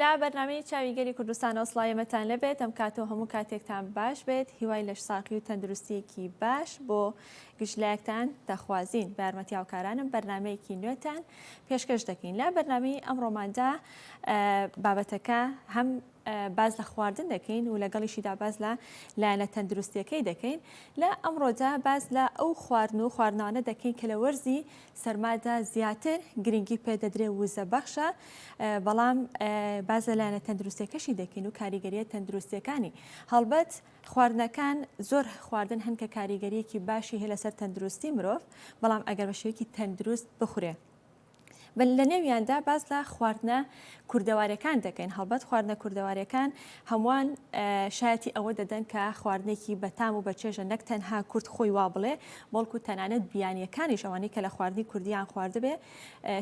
لە بەرنمەی چاوی گەری کوردستان ئەوسڵایەمەتان لەبێت ئەم کاتەوە هەموو کاتێکتان باش بێت هیوای لەش ساقی و تەندروستیەکی باش بۆ گشتلایەکتان دەخوازیین بارمەتی هاوکارانم بەرنمەیەکی نوێتان پێشکەش دەکەین لە بەرنامی ئەم ڕۆماندا بابەتەکە هەم باس لە خواردن دەکەین و لەگەڵیشیدا باس لە لایەنە تەندروستیەکەی دەکەین لە ئەمڕۆدا باس لە ئەو خواردن و خواردنانە دەکەین کە لە وەرزی سەرمادا زیاتر گرنگی پێدەدرێ وزە بەخشە بەڵام باز لە لایەنە تەندروستیەکەشی دەکەین و کاریگەریە تەندروستیەکانی هەڵبەت خواردنەکان زۆر خواردن هەن کە کاریگەریەکی باشی هەیە لەسەر تەندروستی مرۆڤ بەڵام ئەگەر بە شێوەیەکی تەندروست بخورێ بە لە نێویاندا باس لە خواردنە کوردەوارەکان دەکەین هەڵبەت خواردنە کوردەوارەکان هەمووان شایەتی ئەوە دەدەن کە خواردنێکی بەتام و بەچێژە نەک تەنها کورد خۆی وا بڵێ بەڵکو تەنانەت بیانیەکانیش ئەوانەی کە لە خواردنی کوردیان خواردبێ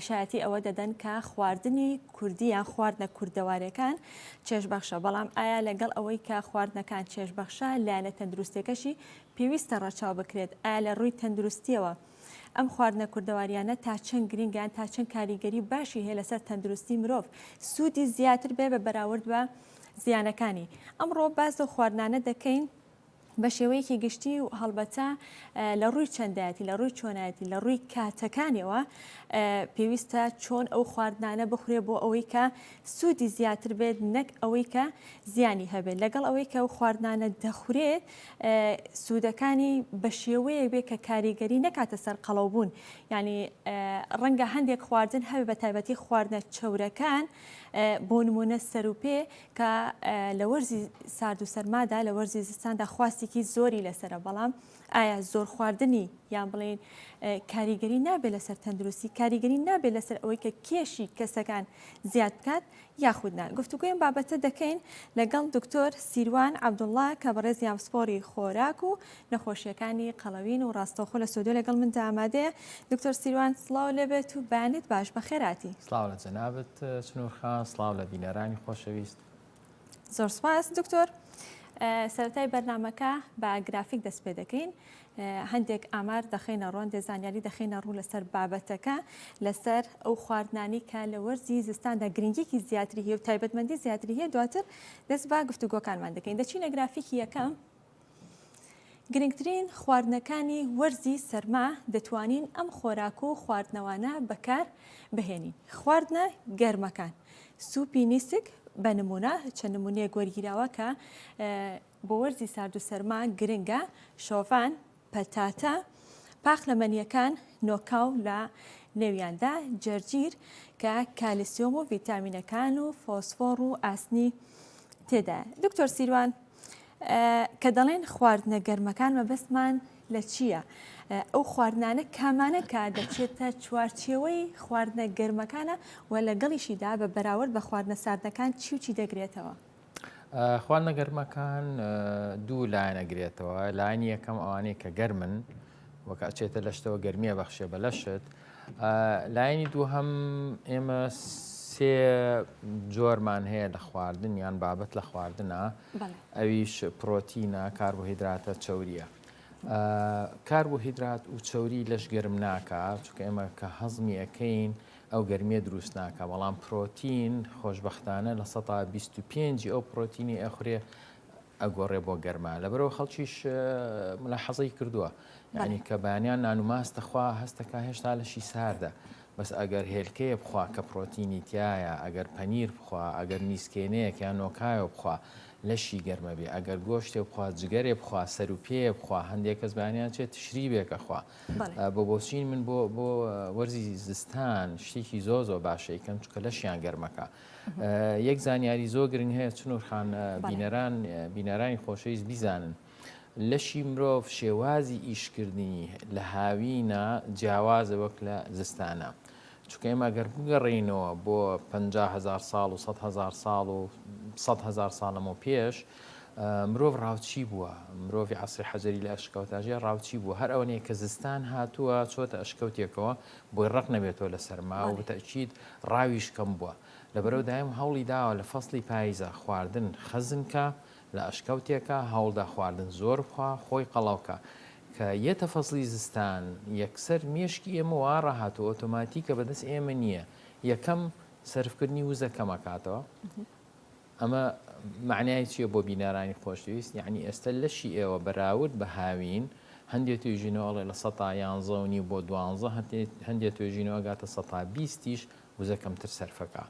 شایەتی ئەوە دەدەن کە خواردنی کوردیان خواردنە کوردەوارەکان چێژبەخشە بەڵام ئایا لەگەڵ ئەوەی کە خواردنەکان چێژبەخشە لایەنە تەندروستەکەشی پێویستە ڕەچاو بکرێت ئایا لە ڕووی تەندروستیەوە. ئەم خواردنە کوردەواریانە تا چەند گرینگە یان تا چەند کاریگەری باشی هەیە لەسەر تەندروستی مرۆڤ سوودی زیاتر بێ بە بەراورد بە زیانەکانی ئەمڕۆ باس لەو خواردنانە دەکەین بە شێوەیەکی گشتی و هەڵبەتە لە ڕووی چەندایەتی لە ڕووی چۆنایەتی لە ڕووی کاتەکانیەوە پێویستە چۆن ئەو خواردنانە بخورێ بۆ ئەوەی کە سوودی زیاتر بێت نەک ئەوەی کە زیانی هەبێت لەگەڵ ئەوەی کە ئەو خواردنانە دەخورێت سوودەکانی بە شێوەیەک بێت کە کاریگەری نەکاتە سەر قەڵەوبوون یعنی ڕەنگە هەندێک خواردن هەوێ بە تایبەتی خواردنە چەورەکان بۆ نمونە سەروپێ کە لە وەرزی سارد و سەرمادا لە وەرزی زستاندا خواستێکی زۆری لەسرە بەڵام ئایا زۆر خواردنی یان بڵین کاریگەری نابێت لەسەر تەندروستی کاریگەری نابێت لەسەر ئەوەی کە کێشی کەسەکان زیاد بکات یاخود نا گفتوگۆی ئەم بابەتە دەکەین لەگەڵ دکتۆر سیروان عەبدوڵڵا کە بەڕێزی ئامسپۆری خۆراک و نەخۆشیەکانی قەڵەوین و ڕاستەوخۆ لە سۆدۆ لەگەڵ مندا ئامادەیە دکتۆر سیروان سڵاو لێبێت و بەیانیت باش بەخێراتی. سڵاو لە جەنابت سنور خان سڵاو لە بینەرانی خۆشەویست. زۆر سپاس دکتۆر سەرەتای بەرنامەکە بە گرافیک دەست پێ دەکەین هەندێک ئامار دەخەینە ڕوو، هەندێک زانیاری دەخەینە ڕوو لەسەر بابەتەکە، لەسەر ئەو خواردنانەی کە لە وەرزی زستاندا گرنگیەکی زیاتری هەیە و تایبەتمەندی زیاتری هەیە دواتر دەست بە گفتوگۆکانمان دەکەین دەچینە گرافیکی یەکەم گرنگترین خواردنەکانی وەرزی سەرما دەتوانین ئەم خۆراک و خواردنەوانە بەکار بهێنین خواردنە گەرمەکان سوپی نیسک بە نمونە چەند نمونەیەک وەرگیراوە کە بۆ وەرزی سارد و سەرما گرنگە، شۆڤان، پەتاتە، پاقلەمەنییەکان، نۆکاو لە نێویاندا جەرجیر کە کالیسیۆم و ڤیتامینەکان و فۆسفۆڕ و ئاسنی تێدایە. دکتۆر سیروان کە دەڵێن خواردنە گەرمەکان مەبەستمان لە چییە؟ ئەو خواردنانە کامانە کە دەچێتە چوارچێوەی خواردنە گەرمەکانە و لەگەڵیشیدا بە بەراورد بە خواردنە ساردەکان چی و چی دەگرێتەوە؟ خواردنە گەرمەکان دوو لایەنە گرێتەوە لایەن یەکەم ئەوانەیە کە گەرمن وەکە ئەچێتە لەشتەوە گەرمیە بەخشێ بە لەشت لایەنی دوو هەم ئێمە سێ جۆرمان هەیە لە خواردن یان بابەت لە خواردنە ئەویش پرۆتینە کاربۆهیدراتە چوریە. کار بۆ هیدرات و چوری لەش گەرم ناکە چکە ئێمە کە هەزمی ئەەکەین ئەو گەرمیە دروست ناکا بەڵام پرۆتین خۆشبەختانە لە سەتا بیست و پێنجی ئەو پرۆتینی ئەخورێ ئەگۆڕێ بۆ گەرما لەبەرەوە خەڵکیش ملاحەزەی کردووە یعنی کە بانیان نان و ماست دەخوا هەستەکە هێشتا لەشی ساردە بەس ئەگەر هێلکەیە بخوا کە پرۆتینی تایە ئەگەر پەنیر بخوا ئەگەر نیسکێنەیەک یان نۆکایۆ بخوا لەشی گەرمەبێ ئەگەر گۆشتێ بخوا جگەرێ بخوا سەر و پێیە بخوا هەندێک کەس بانیان چێت تشریبێکە خوا بۆ بۆچین من بۆ بۆ وەرزی زستان شتێکی زۆ زۆ باشەکەم چکە لەشیان گەرمەکە یەک زانیاری زۆ گرنگ هەیە چنورخان بینەران بینەرانی خۆشەویست بیزانن. لەشی مرۆڤ شێوازی ئیشکردنی لە هاوینە جیاوازە وەک لە زستانە. چونکە ئێمە گەر بگەڕینەوە بۆ 500هزار ساڵ و 100هزار ساڵ و 100هزار ساڵەمە و پێش مرۆڤ ڕاوچی بووە، مرۆڤی عەسری حەجەری لە ئەشکەوتاژیا ڕاوچی بووە، هەر ئەوەنەیە کە زستان هاتووە چۆتە ئەشکەوتێکەوە بۆی ڕەق نەبێتەوە لە سەرما و بەتەئکید ڕاویش کەم بووە، لەبەرەو دایم هەوڵی داوە لە فەسڵی پاییزا خواردن خەزن کا لە ئەشکەوتێکا هەوڵدا خواردن زۆر بخوا خۆی قەڵەو کا، کە یەتە فەسڵی زستان یەکسەر مێشکی ئێمە واڕا هاتووە ئۆتۆماتیکە بەدەست ئێمە نییە یەکەم سەرفکردنی وزە کەم ئەکاتەوە، ئەمە مەعنای چیە بۆ بینەرانی خۆشەویست؟ یەعنی ئێستە لەشی ئێوە بەراورد بە هاوین، هەندێ توێژینەوە ئەڵێ لە سەتا یانزە و نیو بۆ دوانزە، هەندێ توێژینەوە ئەگاتە سەتا بیستیش وزە کەمتر سەرف ئەکا.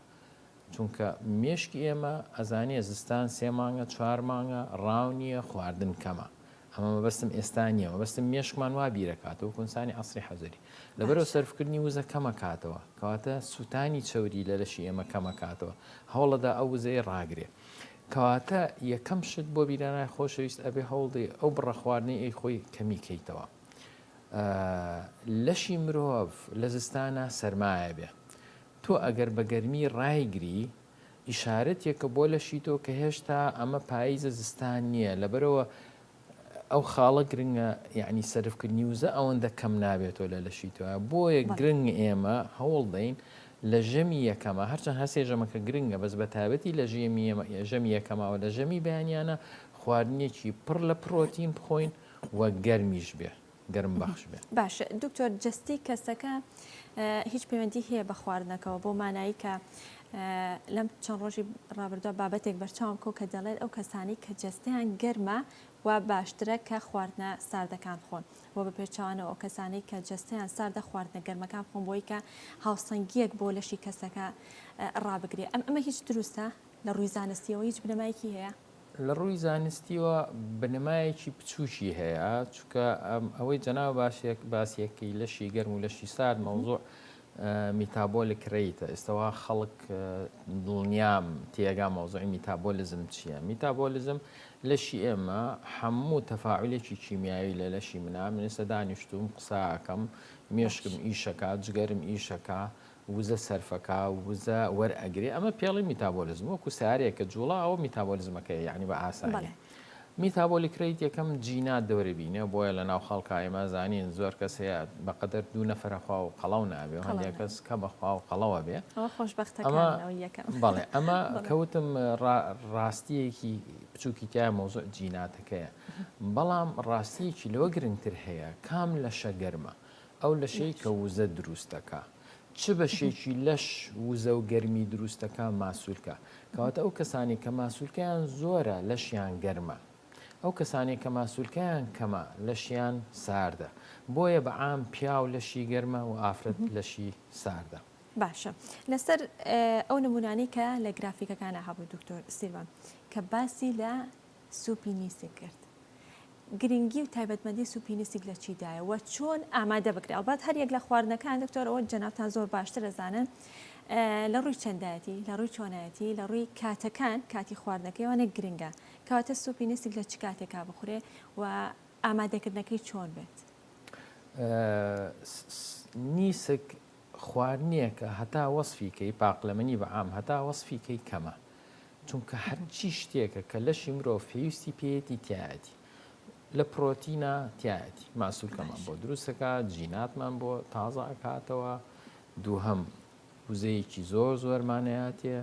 چونکە مێشکی ئێمە ئەزانێ زستان سێ مانگە چوار مانگە، ڕاو نیە، خواردن کەمە. ئەمە مەبەستم ئێستا نیە مەبەستم مێشکمان وا بیرەکاتە وەکو انسانی عەسری حەزەری لەبەرئەوە باشە. سەرفکردنی وزە کەمەکاتەوە کەواتە سوتانی چەوری لە لەشی ئێمە کەمەکاتەوە هەوڵەدا ئەو وزەیە ڕاگرێ کەواتە یەکەم شت بۆ بیرانای خۆشەویست ئەبێ هەوڵدەی ئەو بڕە خواردنەی ئەی خۆی کەمی کەیتەوە ئە لەشی مرۆڤ لە زستانا سەرمایە بێ تۆ ئەگەر بە گەرمی ڕایگری ئیشارەتێکە بۆ لەشی تۆ کە هێشتا ئەمە پاییزە زستان نییە لەبەرەوە ئەو خاڵە گرنگە یعنی سەرفکردنی وزە ئەوەندە کەم نابێتەوە لە لەشی تۆە بۆیە گرنگ ئێمە هەوڵ دەین لە ژەمی یەکەمە هەرچەند هەسێ ژەمەکە گرنگە بەس بە تابەتی لە ژێمی ژەمی یەکەماوە لە ژەمی بەیانیانە خواردنێکی پڕ لە پرۆتین بخۆین و گەرمیش بێ. گەرم بەخش بێ باش دکتۆر جستی کەسەکە هیچ پەیوەندی هەیە بە خواردنەکەەوە بۆ مانایی کە لەم چەند ڕۆژی ڕابردووە بابەتێک بەرچاوم کۆ کە دەڵێت ئەو کەسانی کە جستیان گەرمە و باشترە کە خواردنە ساردەکان خۆن و بە پێچوانەوە ئەو کەسانی کە جستیان ساردە خواردنە گەرمەکان خۆم بۆی کە هاوسەنگیەک بۆ لەشی کەسەکە ڕابگرێ ئەم ئەمە هیچ دروستە لە ڕووی زانستیەوە هیچ بنەمایکی هەیە لە ڕووی زانستیەوە بنەمایەکی بچووکی هەیە چکە ئەوەی جەناو باشێک باسیەکەی لەشی گەرم و لەشی سارد مەوزوع میتابۆلک ریتە ئێستاوا خەڵک دڵنیام تێگا مەوزوعی میتابۆلیزم چییە میتابۆلیزم لەشی ئێمە هەموو تەفاعلێکی کیمیایی لە لەشی منا منێسە دانیشتوم قساکەم مێشکم ئیشەکە جگەرم ئیشەکە وزە سەرفەکا و وزە وەرئەگرێ ئەمە پێڵی میتابۆلیزم وەکو سارێک کە جوڵا ئەوە میتابۆلیزمەکەی یعنی بە ئاسانی میتابۆلیک ریت یەکەم جینات دەورە بینێ بۆیە لە ناو خەڵکا ئێمە زانین زۆر کەس هەیە بەقەدەر دوو نەفرە خوا و قەڵەو نابێ هەندێک کەس کە بەخوا و قەڵەوە بێ بەڵێ ئەمە کەوتم ڕاستیەکی بچووکی تای مۆزۆ جیناتەکەیە بەڵام ڕاستیەکی لەوە گرنگتر هەیە کام لە شەگەرمە ئەو لەشەی کە وزە دروست دەکا چ بەشێکی لەش وزە و گەرمی دروست دەکا ماسولکە کەواتە ئەو کەسانی کە ماسولکەیان زۆرە لەشیان گەرمە ئەو کەسانی کە ماسولکەیان کەمە لەشیان ساردە بۆیە بە عام پیاو لەشی گەرمە و ئافرەت لەشی ساردە باشە لەسەر ئەو نمونانەی کە لە گرافیکەکانە هەبوو دکتۆر سیروان کە باسی لە سوپی نیسک کرد. گرنگی و تایبەتمەندی سوپی نیسک لە چیدایە و چۆن ئامادە بکرێ؟ ئەڵبەت هەر یەک لە خواردنەکان دکتۆر ئەوە جەنابتان زۆر باشتر ئەزانن لە ڕووی چەندایەتی، لە ڕووی چۆنایەتی، لە ڕووی کاتەکان کاتی خواردنەکەی وانە گرنگە. کەواتە سوپی نیسک لە چ کاتێکا بخورێ و ئامادەکردنەکەی چۆن بێت؟ نیسک خواردنێکە هەتا وەسفی کەی پاقلەمەنی بە عام هەتا وەسفی کەی کەمە. چونکە هەرچی شتێکە کە لەشی مرۆڤ پێویستی پێیەتی تیایەتی لە پرۆتینە تیایەتی ماسولکەمان بۆ دروست دەکات جیناتمان بۆ تازە ئەکاتەوە دووهەم وزەیەکی زۆر زۆرمانەیەتێ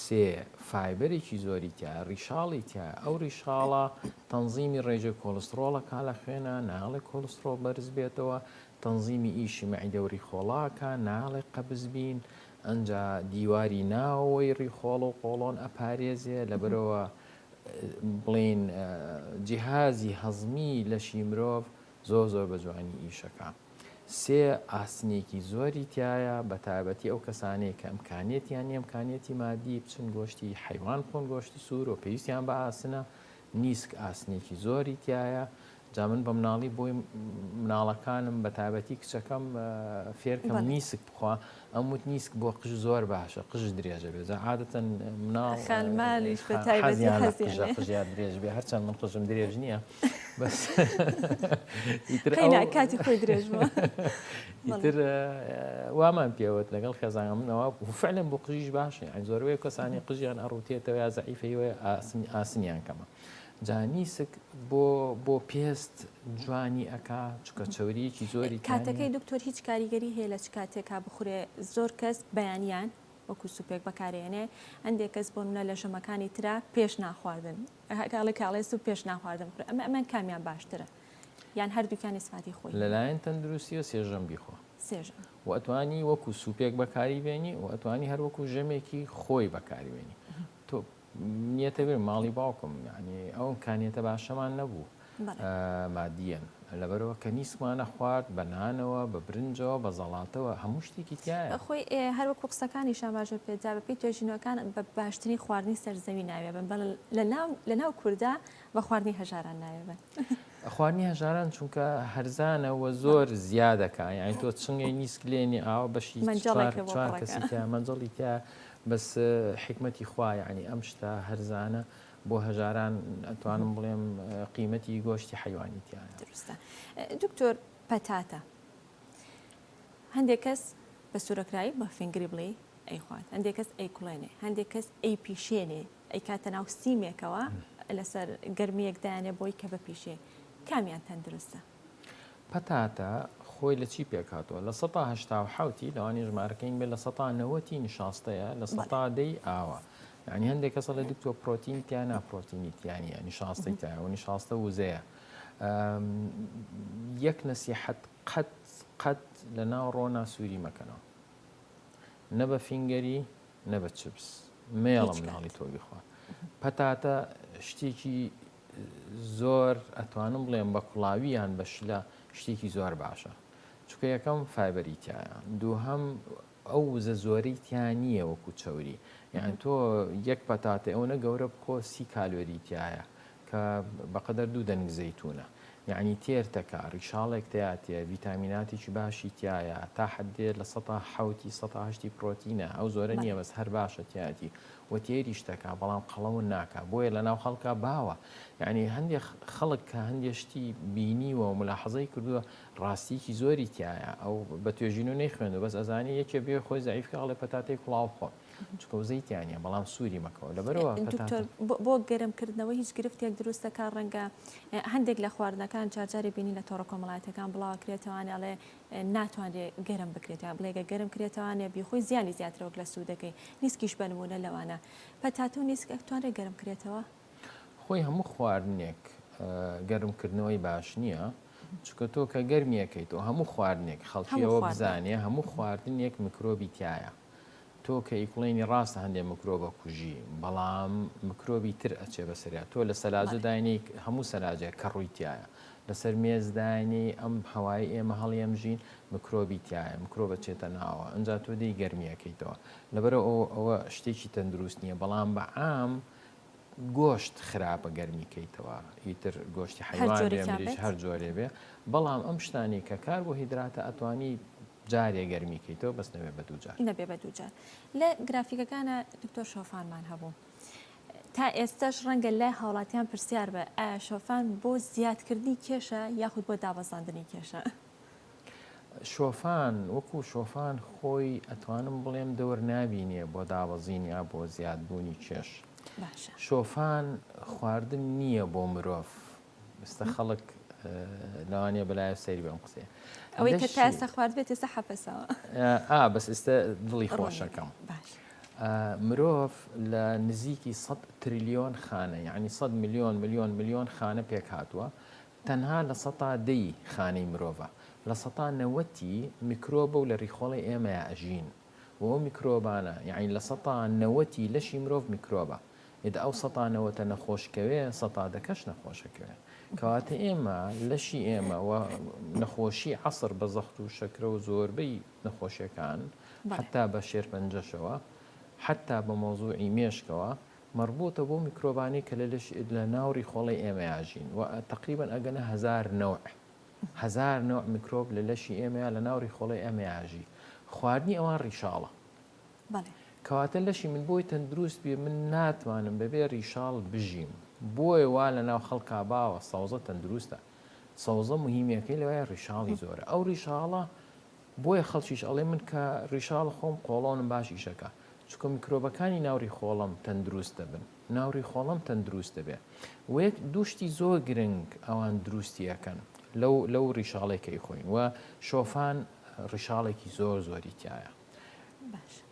سێ فایبەرێکی زۆری تیا ڕیشاڵی تیا ئەو ڕیشاڵە تەنزیمی ڕێژە کۆلسترۆڵە کا لە خوێنە ناڵێ کۆلسترۆڵ بەرز بێتەوە تەنزیمی ئیشی مەعیدەوری خۆڵاکە ناڵێ قەبزبین ئەنجا دیواری ناوەوەی ڕیخۆڵ و قۆڵۆن ئەپارێزێ لەبەرەوە بڵێین جیهازی هەزمی لەشی مرۆڤ زۆر زۆر بە جوانی ئیشەکە سێ ئاسنێکی زۆری تایە بە تایبەتی ئەو کەسانەیە کە ئەمکانێتیان ئەمکانێتی مادی بچن گۆشتی حیوان خۆن گۆشتی سوور و پێویستیان بە ئاسنە نیسک ئاسنێکی زۆری تیایە جا من بە مناڵی بۆی مناڵەکانم بە تابەتی کچەکەم فێرکەم نیسک بخوا ئەم وت نیسک بۆ قژ زۆر باشە قژ درێژە بێ جا عادەتەن مناڵ خانمانیش بە تایبەتی قژیان درێژ بێ هەرچەند من قژم درێژ نییە بەس کاتی خۆی درێژ ئیتر وامان پێوت لەگەڵ خێزانە منەوە فعلم بۆ قژیش باشە ئەین زۆرەوەی کەسانی قژیان ئەڕوتێتەوە یا زعیفەیەوە ئاسنی ئاسنیان کەمە جانیسک بۆ بۆ پێست جوانی ئەکا چکە چوریەکی زۆری کاتەکەی دکتۆر هیچ کاریگەری هەیە لە چ کاتێکا بخورێ زۆر کەس بەیانیان وەکو سوپێک بەکارێنێ هەندێک کەس بۆ منە لە ژەمەکانی تررا پێش ناخواردن هەکڵی کاڵێ سو پێش ناخواردن بخورێ ئەمە ئەمان کامیان باشترە یان هەردووکیانی سفاتی خۆی هەیە. لەلایەن تەندروستییەوە سێژەم بیخۆ. سێژەم. و ئەتوانی وەکو سوپێک بەکاری بێنی و ئەتوانی هەر وەکو ژەمێکی خۆی بەکاری بێنی. تۆ نیەتە بێ ماڵی باوکم یعنی ئەو ئمکانیەتە باشەمان نەبوو مادیەن لەبەرەوە کە نیسکمانە خوارد بە نانەوە بە برنجەوە بە زەڵاتەوە هەموو شتێکی تایە. خۆی هەر وەکو قسەکانی شاباژێر پێت جا بەپێی توێژینەوەکان بە باشترین خواردنی سەر زەوی ناوێبن بەڵ لە لەناو کوردە بە خواردنی هەژاران ناوێ بەن. خواردنی هەژاران چونکە هەرزانە وە زۆر زیادەکە یانی تۆ چنگی نیسک لێنی ئاوە بەشی کەسیکە مەنجڵی تیا بەس حکمەتی خوایانی ئەم شتە هەرزانە بۆ هەژاران ئەتوانم بڵێم قیمەتی گۆشتی حیوانی تیان درستە دکتۆر پەتاتە هەندێک کەس بە سوورەکرایی بە فنگری بڵێ ئەیخوات هەندێک کەس ئەیکڵێنێ هەندێک کەس ئەی پیشێنێ ئەیکاتە ناو سیمێکەوە لەسەر گەرمیەک دایانێ بۆی کە بپیشێ کامیان تەندروستە؟ پەتاتە خۆی لە چی پێکاتەوە لە سەتا هەشتا و حوتی لەوانی ژمارەکەین بێ لە سەتا نەوەتی نیشاستەیە لە سەتا دەی ئاوە یعنی هەندێک کەسە لە دکتۆ پرۆتین تیا ناپرۆتینی تیانە نیشاستی تایەوە نیشاستە وزەیە یەک نەسیحەت قەت قەت لە ناو ڕۆنا سووری مەکەنەوە نە بە فینگەری نە بە چپس مێڵە مناڵی تۆ بیخوا پەتاتە شتێکی زۆر ئەتوانم بڵێم بە کوڵاوییان بە شلە شتێکی زۆر باشە چکە یەکەم فایبەری تایە دووهەم ئەو وزە زۆری تیا نییە وەکو چوری یان تۆ یەک پەتاتە ئەوە گەورە بخۆ سی کالۆریتیایە کە بەقدر دوو دەنگ زەیتونە یەعنی تێر تەکا، ڕیشاڵێک تیاتیە، ڤیتامیناتێکی باشی تیایە، تا حەدێ لە سەتا حەوتی سەتا هەشتی پڕۆتینە، ئەو زۆرە نیە بەس هەر باشە تیاتی و تێریش تەکا بەڵام قەڵەون ناکا بۆیە لە ناو خەڵکا باوە یەعنی هەندێ خەڵک کە هەندێ شتی بینیوە و ملاحەزەی کردوە ڕاستیەکی زۆری تیایە ئەو بە توێژینەوە نەیخوێندوە بەس ئەزانێ یەکێ بێ خۆی زەعیف کە ئەڵێ پەتاتەی کوڵاو بخۆن. چونکە وزەی تیا نیە بەڵام سووری مەکەوە لەبەرەوە دکتۆر بۆ گەرم کردنەوە هیچ گرفتێک دروست دەکات ڕەنگە هەندێک لە خواردنەکان جارجاری بینی لە تۆڕە کۆمەڵاتەکان بڵاوکرێتەوانێ ئەڵێ ناتوانێت گەرم بکرێتە بڵێگە گەرم کرێتەوانێ بیخۆی زیانی زیاترەوەک لە سوودەکەی نیسکیش بەنمونە لەوانە پەتاتە و نیسک ئەکتوانێت گەرم کرێتەوە خۆی هەموو خواردنێک گەرمکردنەوەی باش نییە چکە تۆ کە گەرمیەکەیت و هەموو خواردنێک خەڵکیەوە بزانێ هەموو خواردنێک میکرۆبی تایە تۆ کە ئیکڵێنی ڕاستە هەندێ مکرۆبە کوژی بەڵام مکرۆبی تر ئەچێ بەسەریا تۆ لە سەلاجە داینی هەموو سەلاجێک کە ڕوویتایە لەسەر مێز داینی ئەم هەوای ئێمە هەڵیەم ژین مکرۆبی تایە مکرۆبە چێتە ناوە ئەجا تۆ دەی گەرمیەکەیتەوە لەبەرە ئەو ئەوە شتێکی تەندروست نییە بەڵام بە عام گۆشت خراپە گەرمی کەیتەوە ئیتر گۆشتی حیوان هەر جۆرێ بێ بەڵام ئەم شتانی کە کار بۆ هیدراتە ئەتوانی جارێ گەرمی کەیتەوە بەس نەبێ بە دوو جار. نەبێ بە دوو جار لە گرافیکەکانا دکتۆر شۆفانمان هەبوو تا ئێستەش ڕەنگە لای هاوڵاتیان پرسیار بە ئایا شۆفان بۆ زیادکردنی کێشە یاخود بۆ دابەزاندنی کێشە شۆفان وەکو شۆفان خۆی ئەتوانم بڵێم دەور نابینێ بۆ دابەزین یا بۆ زیادبوونی کێش باشە شۆفان خواردن نییە بۆ مرۆڤ ئێستا خەڵک لەوانەیە بەلایەوە سەیری بەم قسەیە ئەوەی کە تا ئێستا خوارد بێت ئێستا حەپەسەوە ئا بەس ئێستا دڵی خۆشەکەم مرۆڤ لە نزیکی 100 تریلیۆن خانە یعنی 100 میلیۆن میلیۆن میلیۆن خانە پێک هاتووە تەنها لە سەتا دەی خانەی مرۆڤە لە سەتا نەوەتی میکرۆبە و لە ریخۆڵی ئێمەیە ئەژین و ئەو میکرۆبانە یعنی لە سەتا نەوەتی لەشی مرۆڤ میکرۆبە ئیدە ئەو سەتا نەوەتە نەخۆش کەوێ سەتا دەکەش نەخۆش ئەکەوێ کەواتە ئێمە لەشی ئێمە و نەخۆشی عەسر بە زەخت و شەکرە و زۆربەی نەخۆشیەکان حتا بە شێرپەنجەشەوە حتا بە مەوزوعی مێشکەوە مەربوتە بەو میکرۆبانەی کە لە لەش لە ناو ڕیخۆڵەی ئێمەیا ژین و تەقریبەن ئەگەنە هەزار نەوع هەزار نەوع میکرۆب لە لەشی ئێمەیا لە ناو ڕیخۆڵەی ئەمەیا ژی خواردنی ئەوان ڕیشاڵە بەڵێ. کەواتە لەشی من بۆی تەندروست بێ من ناتوانم بەبێ ریشاڵ بژیم بۆیە وا لەناو خەڵکا باوە سەوزە تەندروستە سەوزە مهیمیەکەی لەوەیە ریشاڵی زۆرە ئەو ریشاڵە بۆیە خەڵکیش ئەڵێ من کە ریشاڵ خۆم قۆڵۆنم باش ئیشەکا چونکە میکرۆبەکانی ناو ریخۆڵەم تەندروست دەبن ناو ریخۆڵەم تەندروست دەبێ وەیەک دوو شتی زۆر گرنگ ئەوان دروستی ئەکەن لەو لەو ریشاڵێ کەی خۆین وە شۆفان ریشاڵێکی زۆر زۆری تیایە باشە.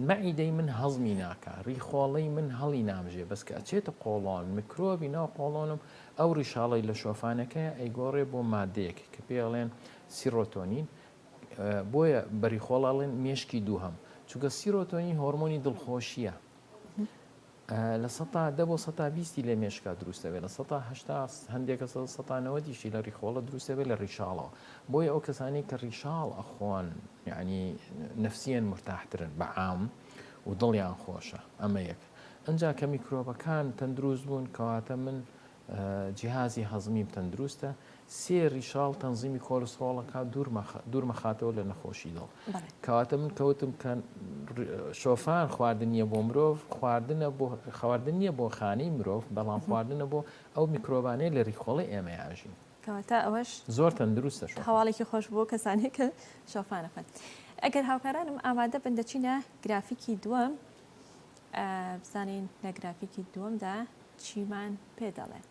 مەعیدەی من هەزمی ناکا ریخۆڵەی من هەڵی نامژێ بەس کە ئەچێتە قۆڵۆن میکرۆبی ناو قۆڵۆنم ئەو ریشاڵی لە شۆفانەکەی ئەیگۆڕێ بۆ مادەیەک کە پێڵێن سیرۆتۆنین بۆیە بەریخۆڵاڵێن مێشکی دووهەم چونکە سیرۆتۆنین هۆرمۆنی دڵخۆشیە لە سەتا دە بۆ سەتا بیستی لە مێشکا دروست دەبێت لە سەتا هەشتا هەندێک کەس لە سەتا نەوەدیشی لە ڕیخۆڵە دروست دەبێت لە ڕیشاڵەوە بۆیە ئەو کەسانەی کە ڕیشاڵ ئەخۆن یعنی نفسیەن مرتاحترن بە عام و دڵیان خۆشە ئەمە یەک ئەنجا کە میکرۆبەکان تەندروست بوون کەواتە من جیهازی هەزمیم تەندروستە، سێ ریشاڵ تەنزیمی کۆلستڕۆڵەکە دوورمەخاتەوە لە نەخۆشی دڵ. کەواتە من کەوتم کە شۆفان خواردن نیە بۆ مرۆڤ خواردنە بۆ خواردن نیە بۆ خانەی مرۆڤ بەڵام خواردنە بۆ ئەو میکرۆبانەیە لە ریخۆڵی ئێمە یاژین. کەواتە ئەوەش زۆر تەندروستە هەواڵێکی خۆش بۆ کەسانی کە شۆفانەخۆن ئەگەر هاوکارانم ئامادە بن دەچینە گرافیکی دووەم بزانین لە گرافیکی دووەمدا چیمان پێ دەڵێن؟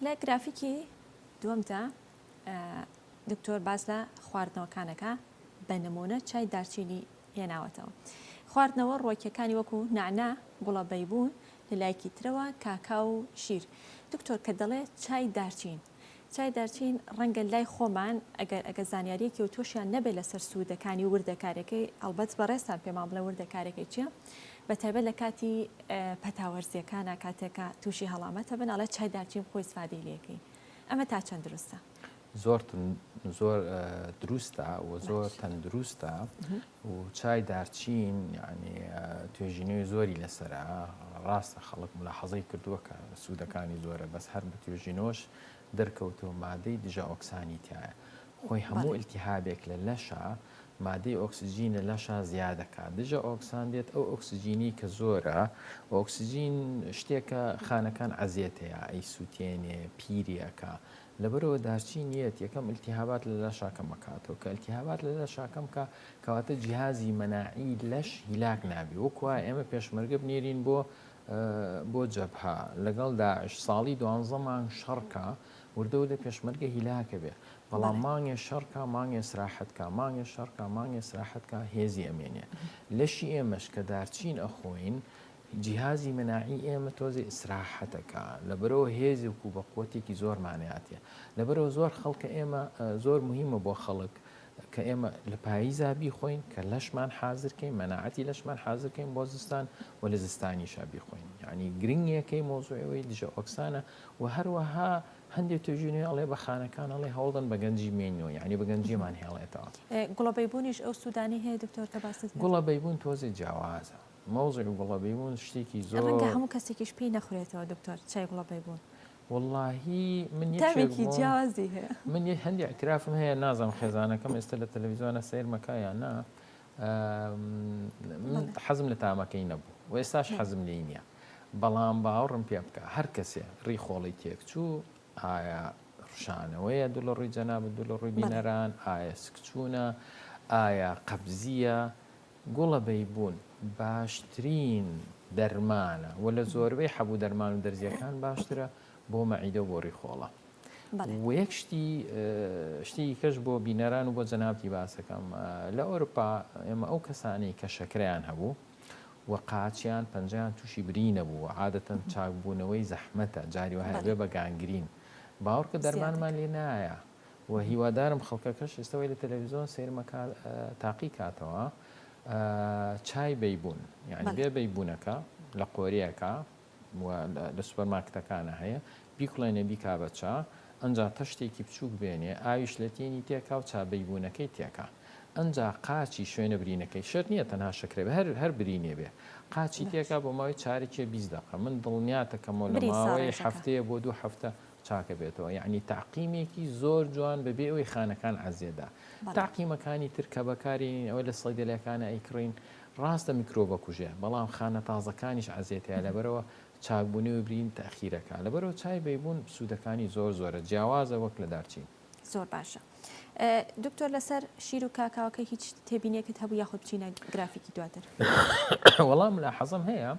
لە گرافیکی دووەمدا دکتۆر باز لە خواردنەوەکانەکە بە نمونە چای دارچینی هێناوەتەوە. خواردنەوە ڕۆکیەکانی وەکو نعنا گوڵە بەیبوون لە لایەکی ترەوە کاکا و شیر. دکتۆر کە دەڵێ چای دارچین چای دارچین ڕەنگە لای خۆمان ئەگەر ئەگەر زانیاریەکی ئەوتۆشیان نەبێت لەسەر سوودەکانی و وردەکارەکەی ئەڵبەت بەڕێزتان پێمان بڵێ وردەکارەکەی چیە بەتایبەت لە کاتی پەتاوەرزیەکانە کاتێکە تووشی هەڵامەتە بن ئەڵێ چای دارچین خۆی سفادەی لەکەی ئەمە تا چەند دروستە زۆر زۆر دروستە و زۆر تەندروستە و چای دارچین یانی توێژینەوی زۆری لەسەرە ڕاستە خەڵک ملاحەزەی کردووە کە سوودەکانی زۆرە بەس هەر بە توێژینەوەش دەرکەوتەوە مادەی دژە ئۆکسانی تایە خۆی هەموو ئلتیهابێک لە لەشە مادەی ئۆکسسیجین لە لەشە زیادەکە دژە ئۆکسان دێت ئەو ئۆکسسیجینی کە زۆرە ئۆکسسیجین شتێکە خانەکان عزیێتەیە ئەی سووتێنێ پیریەکە لەبەرئەوە دارچین یەت یەکەم التهابات لە لاشا کەم ئەکاتەوە کە التهابات لە لاشا کەم کا کەواتە جیهازی مەناعی لەش هیلاک نابی وەک وا ئێمە پێشمەرگە بنێرین بۆ بۆ جەبهە لەگەڵ داعش ساڵی دوانزە مانگ شەڕکە وردە وردە پێشمەرگە هیلاکە بێ بەڵام مانگێ شەڕکە مانگێ سراحەتکە مانگێ شەڕکە مانگێ سراحەتکە هێزی ئەمێنێ لەشی ئێمەش کە دارچین ئەخۆین جیهازی مناعی ئێمە تۆزێ ئیسراحەت ئەکا لەبەرئەوە هێزێک و بەقوەتێکی زۆرمان هاتیە لەبەرئەوە زۆر خەڵکە ئێمە زۆر موهیمە بۆ خەڵک کە ئێمە لە پاییزا بیخۆین کە لەشمان حازر کەین مەناعەتی لەشمان حازر کەین بۆ زستان و لە زستانیشا بیخۆین یانی گرنگیەکەی مەوزوعی ئەوەی دژە ئۆکسانە و هەروەها هەندێ توێژی نوێ ئەڵێ بە خانەکان ئەڵێ هەوڵدەن بە گەنجی مێینەوە یانی بە گەنجیمان هێڵێتەوە. گوڵە بەیبونیش ئەو سودانی هەیە دکتۆر کە باست کرد؟ گوڵە بەیبون تۆزێ جیاوازە. موضع گوڵە بەیبون شتێکی زۆر. ڕەنگە هەموو کەسێکیش پێی نەخورێتەوە دکتۆر چای گوڵە بەیبون. وەڵاهی من یەکێک بووم. تامێکی جیاوازی هەیە. من هەندێ ئیعترافم هەیە نازانم خێزانەکەم ئێستا لە تەلەفیزیۆنا سەیرمە کا یا نا من حەزم لە تامەکەی نەبوو و ئێستاش حەزم لێی نییە بەڵام باوڕم پێ بکە هەر کەسێ ڕی خۆڵی تێکچوو ئایا ڕشانەوەیە دوو لە ڕووی جەناب دوو لە ڕووی بینەران ئایا سکچوونە ئایا قەبزیە گوڵە بەیبوون باشترین دەرمانە وە لە زۆربەی حەبوو دەرمان و دەرزیەکان باشترە بۆ مەعیدە و بۆ ڕیخۆڵە وە یەک شتی شتیی کەش بۆ بینەران و بۆ جەنابتی باسەکەم لە ئۆروپا ئێمە ئەو کەسانەی کە شەکرەیان هەبوو و قاچیان پەنجەیان تووشی بری نەبوو عادەتەن چاکبوونەوەی زەحمەتە جاری وهەیە بێ بە گانگرین باوەڕکە دەرمانمان لێ نایە و هیوادارم خەڵکەکەش ئێستا وای لە تەلەفیزۆن سەیرم ئەکات تاقی کاتەوە چای بەیبون یعنی بێ بەیبونەکە لە قۆریەکە لە سوپەرماکتەکانە هەیە بیکڵێنێ بیکا بە چا ئەجا تەشتێکی بچووک بێنێ ئاویش لە تێنی تێکا و چابەیبوونەکەی تێکا ئەجا قاچی شوێنە برینەکەی شەر نییە تەنها شکرێ هەر هەر برینێ بێ قاچی تێکا بۆ ماوەی چارێکێ بیست دقە من دڵنیاتەکەمەوە لە ماوەی هەفتەیە بۆ دوو هەفتە چاکە بێتەوە یعنی تاقیمێکی زۆر جوان بەبێ ئەوی خانەکان عزیێدا تاقیمەکانی تر کە بەکارێنین ئەوە لە سەیدەلەکانە ئەیکڕین ڕاستە میکرۆبە کوژێ بەڵام خانە تازەکانیش عزیێتەیە لەبەرەوە چاکبوونەوە برین تاخیرەکە لەبەرەوە چای بەیبوون سوودەکانی زۆر زۆرە جیاوازە وەک لە دارچین. زۆر باشە دکتۆر لەسەر شیر و کاکاوەکە هیچ تێبینێکت هەبوو یاخود بچینە گرافیکی دواتر وەڵام لا حەزم هەیە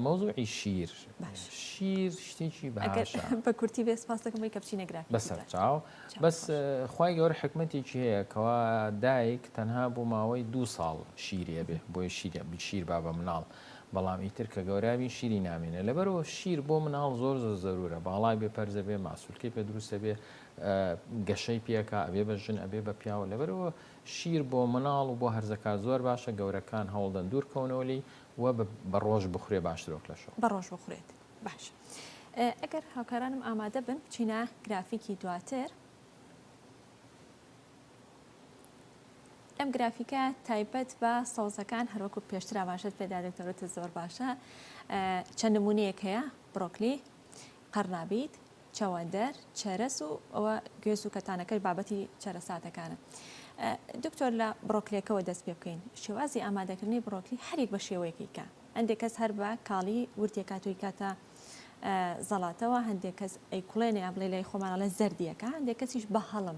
مەوزوعی شیر شیر شتێکی باشە بە کورتی بێ سپاس دەکەم بۆی کە بچینە گرافیک بەسەر چاو بەس خی گەورە حکمەتێکی هەیە کەوا دایک تەنها بۆ ماوەی دو ساڵ شیرێ بێ بۆی شیرە بشیر با بە مناڵ بەڵام ئیتر کە گەورابین شیری نامێنێ لەبەرئەوە شیر بۆ مناڵ زۆر زۆر زەرورە باڵای بێ پەرزە بێ ماسولکەی پێ دروستە بێ گەشەی پێکا ئەبێ بە ژن ئەبێ بە پیاوە لەبەرەوە شیر بۆ مناڵ و بۆ هەرزەکار زۆر باشە گەورەکان هەوڵدەن دوور کەونەوە لی و بە ڕۆژ بخورێ باشترۆک لەشە بە ڕۆژ بخورێت باش ئەگەر هاوکارانم ئامادە بن بچینە گرافیکی دواتر ئەم گرافیکە تایبەت بە سەوزەکان هەروەکو پێشتر ئاماژەت پێدا دکتۆرەتە زۆر باشە چەند نمونەیەک هەیە بڕۆکلی قەرنابیت چەوەندەر چەرەس و ئەوە گوێز و کەتانەکەش بابەتی چەرەساتەکانە دکتۆر لە بڕۆکلێکەوە دەست پێ بکەین شێوازی ئامادەکردنی بڕۆکلی هەرێک بە شێوەیەکیکە هەندێک کەس هەر بە کاڵی ورتێکاتوی کاتە زەڵاتەوە هەندێک کەس ئەیکڵێنێ بڵێ لای خۆمانە لە زەردیەکە هەندێک کەسیش بە هەڵم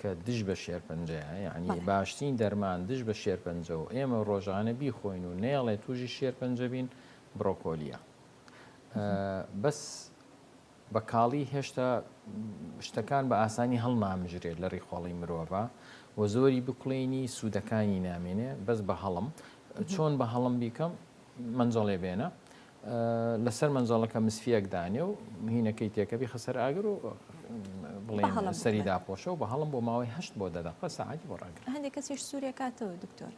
کە دژ بە شێرپەنجەیە یانی بەڵێ. باشترین دەرمان دژ بە شێرپەنجە و ئێمە ڕۆژانە بیخۆین و نەیەڵێ تووشی شێرپەنجە بین بڕۆکۆلیە ئە بەس بە کاڵی هێشتا شتەکان بە ئاسانی هەڵنامژرێت لە ڕیخۆڵی مرۆڤا و زۆری بکڵێنی سوودەکانی نامێنێ بەس بە هەڵم چۆن بە هەڵم بیکەم مەنجەڵێ بێنە لەسەر مەنجەڵەکە مسفیەک دانێ و مهینەکەی تێکە بیخە سەر ئاگر و بڵێن سەری داپۆشە و بە هەڵم بۆ ماوەی هەشت بۆ دەدەقە سەعاتی بۆ ڕاگر هەندێک کەسیش سوورێ کاتەوە دکتۆر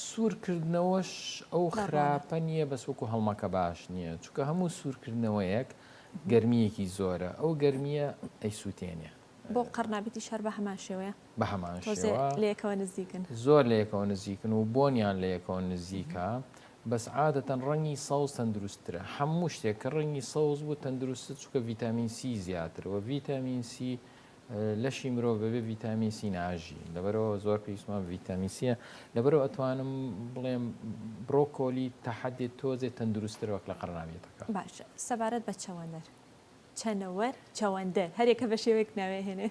سوورکردنەوەش ئەو خراپە نییە بەس وەکو هەڵمەکە باش نییە چکە هەموو سوورکردنەوەیەک گەرمیەکی زۆرە ئەو گەرمیە ئەی سووتێنێ بۆ قەڕنابیتیش هەر بە هەمان شێوەیە؟ بە هەمان شێوە. تۆزێ لە یەکەوە نزیکن. زۆر لە یەکەوە نزیکن و بۆنیان لە یەکەوە نزیکە، بەس عادەتەن ڕەنگی سەوز تەندروستترە. هەموو شتێک کە ڕەنگی سەوز بوو تەندروستە، چونکە ڤیتامین سی زیاترە و ڤیتامین سی لەشی مرۆڤ بەبێ ڤیتامین سی ناژی، لەبەرئەوە زۆر پێویستمان بە ڤیتامین سییە. لەبەرئەوە ئەتوانم بڵێم برۆکۆلی تا حەدێ تۆزێ تەندروستترە وەک لە قەڕنابیتەکە. باشە سەبارەت بە چەوەندەر؟ چەنەوەر، چەوەندەر، هەر یەکە بە شێوەیەک ناوی ئەهێنێ.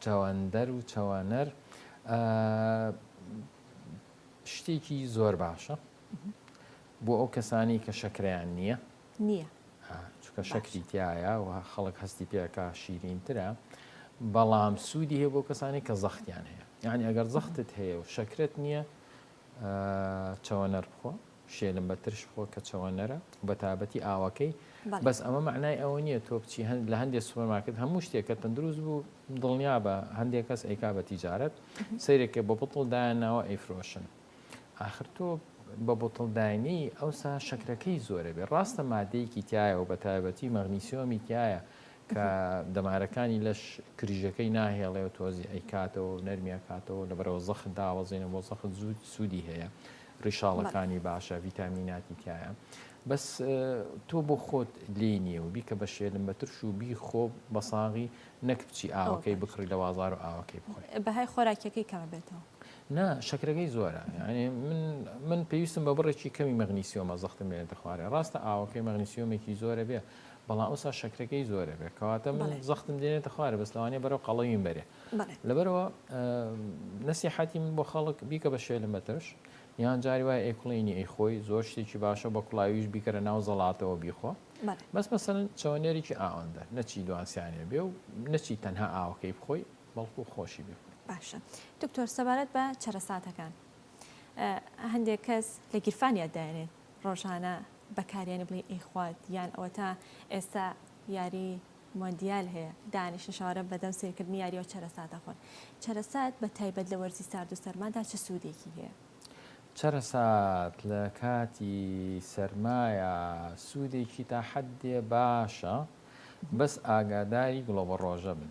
چەوەندەر و چەوەنەر شتێکی زۆر باشە بۆ ئەو کەسانی کە شەکریان نییە نییە چکە شەکری تایە و خەڵک هەستی پێکە شیرینترە بەڵام سوودی هەیە بۆ کەسانی کە زەختیان هەیە یعنی ئەگەر زەختت هەیە و شەکرت نییە چاوەنەر بخۆ شێلم بە ترش خۆ کە چەوەنەرە و بە تابەتی ئاوەکەی بەس ئەمە مەعنای ئەوە نییە تۆ بچی هەند لە هەندێ سوپەرمارکێت هەموو شتێک کە تەندروست بوو دڵنیا بە هەندێک کەس ئەیکا بە تیجارەت سەیرێکە بە بتڵ دایانناوە ئەیفرۆشن ئاخر تۆ بە بتڵ داینی ئەوسا شەکرەکەی زۆرە بێ ڕاستە مادەیەکی تایە و بە تایبەتی مەغنیسیۆمی تایە کە دەمارەکانی لەش کریژەکەی ناهێڵێ و تۆزی ئەیکاتەوە و نەرمی ئەکاتەوە، لەبەرئەوە زەخت داوەزێنە بۆ زەخت زوو سوودی هەیە، ڕیشاڵەکانی باشە، ڤیتامیناتی تیایە، بەس تۆ بۆ خۆت لێی نییە و بیکە بە شێلم بە ترش و بیخۆ بە ساغی نەک بچی ئاوەکەی بکڕی لە وازار و ئاوەکەی بخۆی. بەهای خۆراکیەکەی کەمە بێتەوە. نا شەکرەکەی زۆرە یانی من من پێویستم بە بڕێکی کەمی مەغنیسیۆمە زەختم لێ دەخوارێ ڕاستە ئاوەکەی مەغنیسیۆمێکی زۆرە بێ بەڵام ئەوسا شەکرەکەی زۆر ئەبێ کەواتە من زەختم دێنێتە خوارێ بەس لەوانەیە بەرەو قەڵەویم بەرێ لەبەرەوە نەسیحەتی من بۆ خەڵک بیکە بە شێلم بە ترش یان جاری وای ئەیکڵینی ئەی خۆی زۆر شتێکی باشە بە کوڵاویش بیکەرە ناو زەڵاتەوە بیخۆ بەس مەسەن چەوەنێرێکی ئاوەندە نەچی دوانسیانێ بێ و نەچی تەنها ئاوەکەی بخۆی بەڵکو خۆشی بێ باشە دکتۆر سەبارەت بە چەرەساتەکان هەندێک کەس لە گیرفانیان دایێنێت ڕۆژانە بەکاریانی بڵێی ئەی خوات یان ئەوەتا ئێستا یاری مۆندیال هەیە دانیشن شەوانە بەدەم سیرکردنی یاریەوە چەرەسات دەخۆن چەرەسات بە تایبەت لە وەرزی سارد و سەرمادا چ سوودێکی هەیە؟ چەرەسات لە کاتی سەرمایە سوودێکی تا حەدێ باشە بەس ئاگاداری گڵۆبەڕۆژە بن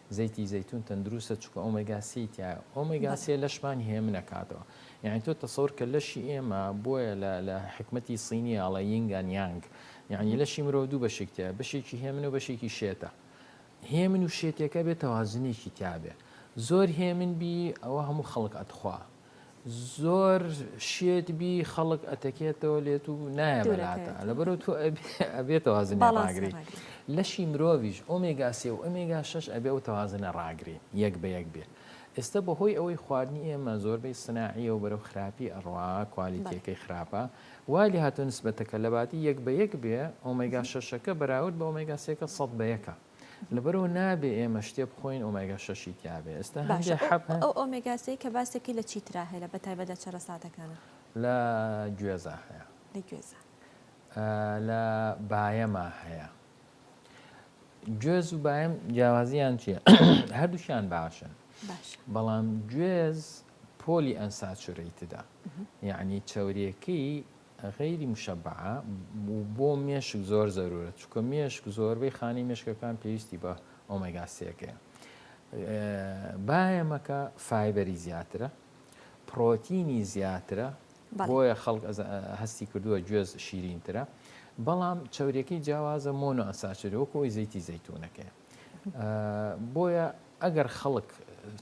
زەیتی زەیتون تەندروستە چونکە ئۆمێگا سێی تیایە ئۆمێگا سێ لەشمان هێمن ئەکاتەوە یانی تۆ تەسەور کە لەشی ئێمە بۆیە لە لە حیکمەتی صینی ئەڵێ یینگ ئەند یانگ یانی لەشی مرۆ دوو بەشێک تیایە بەشێکی هێمن و بەشێکی شێتە هێمن و شێتێکە بێ تەوازنێکی تیابێ زۆر هێمن بی ئەوە هەموو خەڵک ئەتخوا. زۆر شێت بی خەڵک ئەتەکێتەوە لێت و نایە بەلاتە لەبەرو تۆ ئەبێ تەوازنە ڕاگری لەشی مرۆڤش ئۆمێگا سێ و ئەمێگا شش ئەبێ و تەوازنە ڕاگری یەک بە یەک بێ ئێستا بەهۆی ئەوەی خواردنی ئێمە زۆربەی سناعیە و بەرەو خراپی ئەڕوا کوالیتیەکەی خراپە وای لێ هاتوو نسبەتەکە لەباتی یەک بە یەک بێ ئۆمێگا شەشەکە بەراورد بە ئۆمێگا سێکە سەد بە یەکە لەبەرو نابێ ئێمە شتێ بخۆین ئۆمێگا شەشی تیابێ ئێستا هەندێ حەب هەن ئەو ئۆمێگاسەی کە باسێکی لە چیترا هەیە لە بەتایبەت لە چەرەساتەکانا لە گوێزا هەیە لە گوێزا لە بایەما هەیە گوێز و بایم جیاوازیان چییە هەردووشیان باشن بەڵام گوێز پۆلی ئەنساچورەیتدا یعنی چاوریەکەی غەیری مشەبعە، و بۆ مێشک زۆر زەرورە چونکە مێشک زۆربەی خانەی مێشکەکان پێویستی بە ئۆمێگا سێکەیە. بایەمەکە فایبەری زیاترە، پرۆتینی زیاترە، بۆیە خەڵک هەستی کردووە گوێز شیرینترە، بەڵام چەوریەکەی جیاوازە مۆنۆ ئەساچری وەکو ئەوی زەیتی زەیتونەکەی. بۆیە ئەگەر خەڵک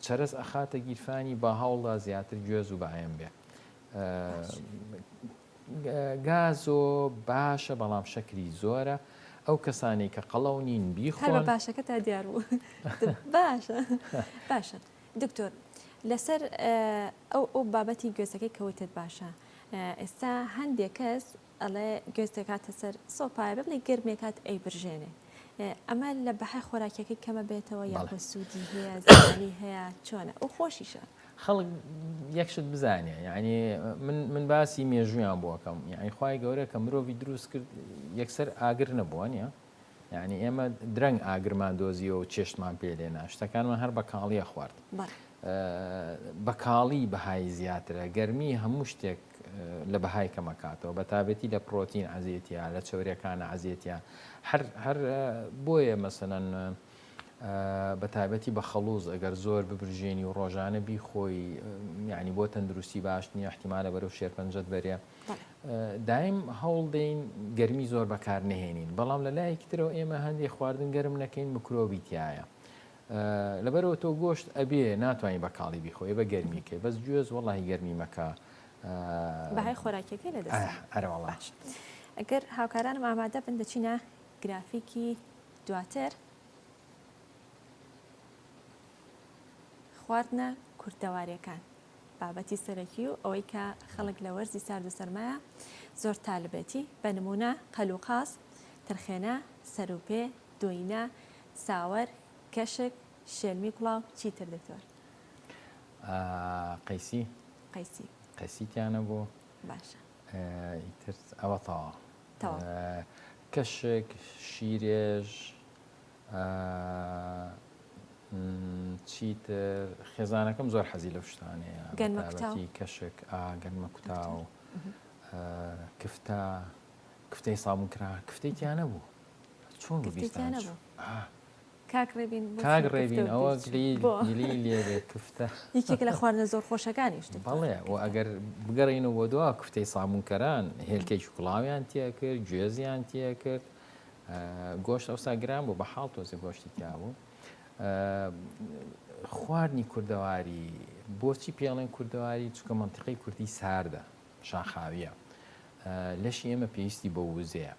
چەرەس ئەخاتە گیرفانی با هەوڵدا زیاتر گوێز و بایەم بێ. گازۆ باشە بەڵام شەکری زۆرە ئەو کەسانی کە قەڵەو نین بیخۆن باشەکە تا دیار بوو باشە باشە دکتۆر لەسەر ئەو ئەو بابەتی گوێزەکەی کەوتت باشە ئێستا هەندێک کەس ئەڵێ گوێز دەکاتە سەر سۆپایە بەبنی گەرمێ کات ئەی برژێنێ ئەمە لە بەهای خۆراکیەکەی کەمە بێتەوە یا سوودی هەیە زیانی هەیە چۆنە ئەو خۆشیشە خەڵک یەکشت بزانێ یعنی من باسی مێژویان بۆکەم یعنی خی گەورە کە مرۆڤی دروست کرد یەکسەر ئاگر نەبووە نیە یانی ئێمە درەنگ ئاگرمان دۆزیەوە و چێشتمان پێ لێنا شتەکانمان هەر بە کاڵیە خوارد بە کاڵی بەهای زیاترە گەرمی هەموو شتێک لە بەهای کەمەکاتەوە بە تابەتی لە پرۆتین عزیەتە لە چورەکانە عزیەتە هەر هەر بۆیە مەسەەن بە تابەتی بە خەڵوز ئەگەر زۆر ببرژێنی و ڕۆژانە بیخۆی یعنی بۆ تەندروستی باش نیە احتیمالە بەرەو شێرپەنجەت بەرێ دایم هەوڵ دەین گەرمی زۆر بەکار نەهێنین، بەڵام لە لایەکی ترەوە ئێمە هەندێک خواردن گەرم نەکەین مکرۆبی تیایە. لەبەرئەوە تۆ گۆشت ئەبێ ناتوانین بە کاڵی بیخۆی ئەبە گەرمی کەی بەس گوێز وەڵاهی گەرمی مەکە. بەهای خۆراکیەکەی لە دەست ئەرێ ئەرێ وەڵا. باش گەر هاوکارانم ئامادە بن دەچینە گرافیکی دواتر. خواردنە کوردەواریەکان بابەتی سەرەکی و ئەوەی کە خەڵک لە وەرزی سارد و سەرمایە زۆر تالبێتی بە نمونە قەل و قاز ترخێنە سەروپێ دۆینە ساوەر کەشک شێلمی کوڵاو چیتر دکتۆر قەیسی قەیسی قەیسی تیانە بۆ باشە ئیتر ئەوە تەوا کەشک شیرێژ ئە م چیتر خێزانەکەم زۆر حەزی لەو شتانەیە بەتایبەتی کەشک ئا گەنمە کوتاو ئە کفتە کفتەی سابون کرا کفتەی تیا نەبوو چۆن ببیستان کفتەی تیا نەبوو ئا کاک ڕێبین بۆ کاک ڕێبین ئەوە گلی لێرێ کفتە یەکێک لە خواردنە زۆر خۆشەکانیش بەڵێ و ئەگەر بگەڕێینەوە بۆ دوا کفتەی سامونکەران هێلکەی شوکڵاویان تیا کرد گوێزیان تیا کرد گۆشت ئەوسا گران بوو بە حاڵ تۆزە گۆشتی تیابوو خواردنی کوردەواری بۆچی پێڵێن کوردەواری چکە منتیقی کوردی ساردە شاخاویە لەشی ئێمە پێویستی بە وزەیە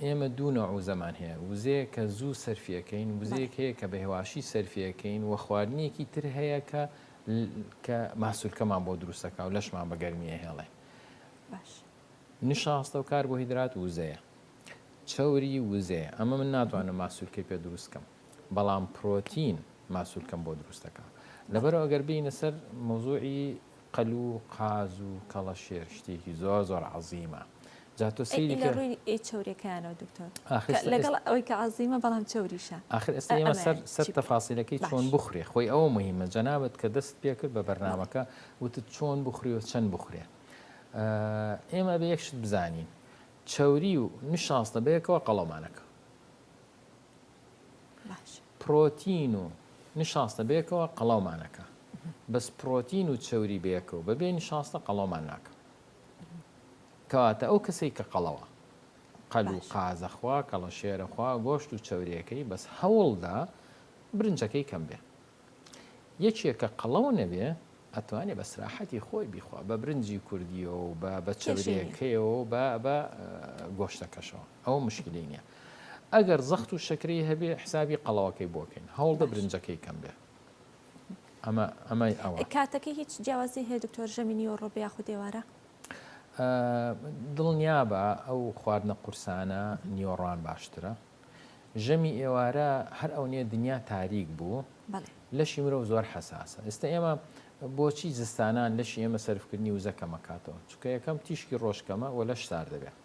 ئێمە دوو نەوع زەمان هەیە وزەیە کە زوو سەرفیەکەین وزەیەک هەیە کە بە هێواشی سەرفیەکەین و خواردنیەکی تر هەیە کە کە ماسوولکەمان بۆ دروستەکە و لەشمان بە گەرمیە هێڵێ باش. نشاستە و کاربۆهیدرات وزەیە چەوری وزەیە ئەمە من ناتوانم ماسولکەی پێ دروست کەم بەڵام پرۆتین ماسولکەم بۆ دروستەکە لەبەرەوە گەر بینە سەر مەوزوعی قەل و قاز و کەڵەشێر شتێکی زۆر زۆر عەزیمە جا تۆ سەیری کە ڕووی چەورەکەیانەوە دکتۆر لەگەڵ ئەوەی کە عەزیمە بەڵام چەوریشە ئاخر ئێستا ئێمە سەر سەر تەفاسیلەکەی چۆن بخورێ خۆی ئەوە مهمە جەنابەت کە دەست پێ کرد بە بەرنمەکە وتت چۆن بخورێ و چەند بخورێ ئێمە ئەبێ یەک شت بزانین چەوری و نشاستە بەیەکەوە قەڵەمانەکە پرۆتین و نشاستە بەیەکەوە قەڵاومانەکە بەس پرۆتین و چەوری بەیەکەوە بەبێ نشاستە قەڵاومان ناکە کەواتە ئەو کەسێک کە قەڵەوە قەل و قازەخوا کەڵە شێرەخوا گۆشت و چەورەکەی بەس هەوڵدا برنجەکەی کەم بێ یەکێ کە قەڵەو نەبێ ئەتوانێ بە سراحەتی خۆی بیخوا بە برنجی کوردیەوە و بە بە چەورێکەیەوە بە بە گۆشتەکەشەوە ئەوە مشکلی نییە ئەگەر زەخت و شەکری هەبێ حسابی قەڵەوەکەی بۆکەین هەوڵ بە برنجەکەی کەم بێ ئەمە ئەمای ئەوە کاتەکە هیچ جیاوازی هەیە دکتۆر ژەمی نیوە ڕۆبێ یاخود دێوارە دڵنیابە ئەو خواردنە قورسانە نیوەڕوان باشترە ژەمی ئێوارە هەر ئەونیە دنیا تاریک بوو لەشی مرۆڤ زۆر حساسە ئێستا ئێمە بۆچی زستانان لەشی ئێمە سەرفکردنی وزە کەمەکاتەوە چکە یەکەم تیشکی ڕۆژکەمە و لەش سار دەبێت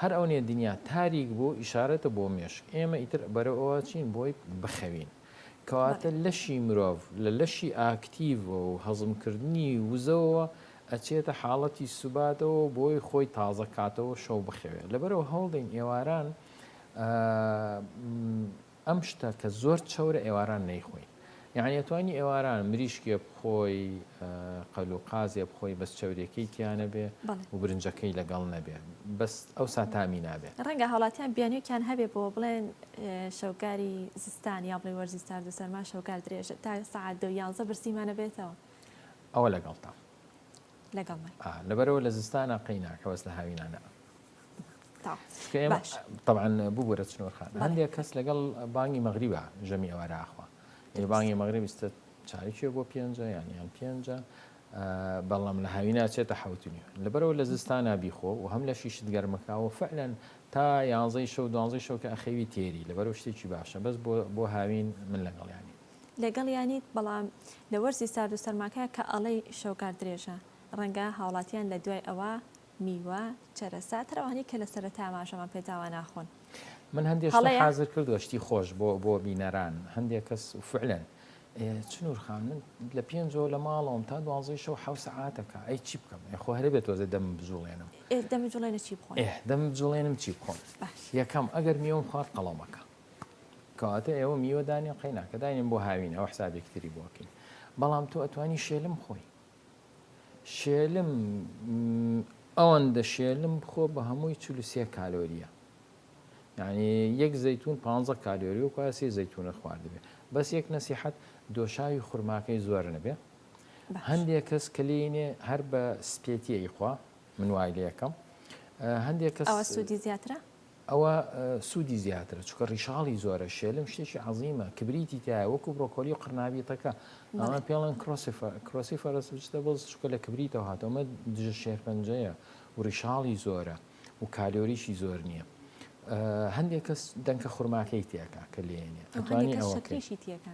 هەر ئەونیە دنیا تاریک بوو ئیشارەتە بۆ مێشک ئێمە ئیتر بەرەوە چین بۆی بخەوین کەواتە لەشی مرۆڤ لە لەشی ئاکتیڤ و هەزمکردنی وزەوە ئەچێتە حاڵەتی سوباتەوە بۆی خۆی تازە کاتەوە شەو بخەوێت لەبەرەوە هەوڵدەین ئێواران ئەم شتە کە زۆر چەورە ئێواران نەیخۆین یعنی توانی ئێواران مریشکێ بخۆی قەل و قازێ بخۆی بەس چەورێکی تیانە بێ و برنجەکەی لەگەڵ نەبێ بەس ئەو ساتامی نابێ ڕەنگە هاڵاتیان بیانویان هەبێ بۆ بڵێن شەوگاری زستان یا بڵێ وەرزی سارد و سەرما شەوگار درێژە تا سعات دە یانزە برسیمانە بێتەوە ئەوە لەگەڵتان لەگەڵ لەبەرەوە لە زستانە قەی ناکەوەس لە هاوینانە تەوان ببوورە چنوور خان هەندێک کەس لەگەڵ بانگی مەغریبە ژەمی ئەوارە ئاخوا بانگی مەغرب بیستە چاویێ بۆ پێنجە یانیان پێنجە بەڵام لە هاوی ناچێتە حوتنی لەبەرەوە لە زستانە بیخۆ و هەم لە شیشت گەرمەکەەوە فعلەن تا یانزەی شەو دوانزەی شەوکە ئەخەوی تێری لەبەرەوە شتێکی باشە بەس بۆ هاوین من لەگەڵیانی لەگەڵ یانیت بەڵام لە وەرزی سارد و سەرماکە کە ئەڵەی شەوگار درێژە ڕەنگە هاوڵاتیان لە دوای ئەوە میوە چەرەسات هەر ئەوانەی کە لە سەرەتای ئاماژەمان پێ داوە ناخۆن. من هەندێ شتم هەڵەیە؟ حازر کردووە شتی خۆش بۆ بۆ بینەران هەندێ کەس و فعلەن ئێ چنوور خان من لە پێنجەوە لە ماڵەوەم تا دوانزەی شەو حەو سەعاتەکە ئەی چی بکەم ئێ خۆ هەرێ بێ تۆزێ دەمم بجووڵێنم ئێ دەم جوڵێنە چی بخۆن ئێ دەمم بجووڵێنم چی بخۆم باش. یەکەم ئەگەر میوەم خوارد قەڵەمەکە کەواتە ئێوە میوە دانێن قەی ناکە داینێن بۆ هاوین ئەوە حسابێکی تری بۆ ئەکەین بەڵام تۆ ئەتوانی شێلم بخۆی شێلم ئەوەندە شێلم بخۆ بە هەمووی چل و سێ کالۆریە یعنی یەک زەتون پ کالۆری و کواسی زەتونە خواردبێ بەس یەک نەسیحەت دۆشاوی خورماکەی زۆر نەبێ هەندێک کەس کلینێ هەر بە سپێتیەی خوا من وای لە یەکەم هەندێک کەس سودی زیاترە ئەوە سودی زیاترە چونکە ڕیشاڵی زۆرە شێلم شتێکی عظیمە کبریتی تایە وەکو بڕۆکۆلی و قڕناویتەکە ئەمە پێڵەن کرۆسی فەرسجتە بەڵ چکە لە کبریتەوە هاتەوەمە دژە شێرپەنجەیە و ڕیشاڵی زۆرە و کالۆریشی زۆر نییە. هەندێک کەس دەنکە خورماکەی تێکە کە لێنێ ئەتوانی ئەوەکەشی تێکە.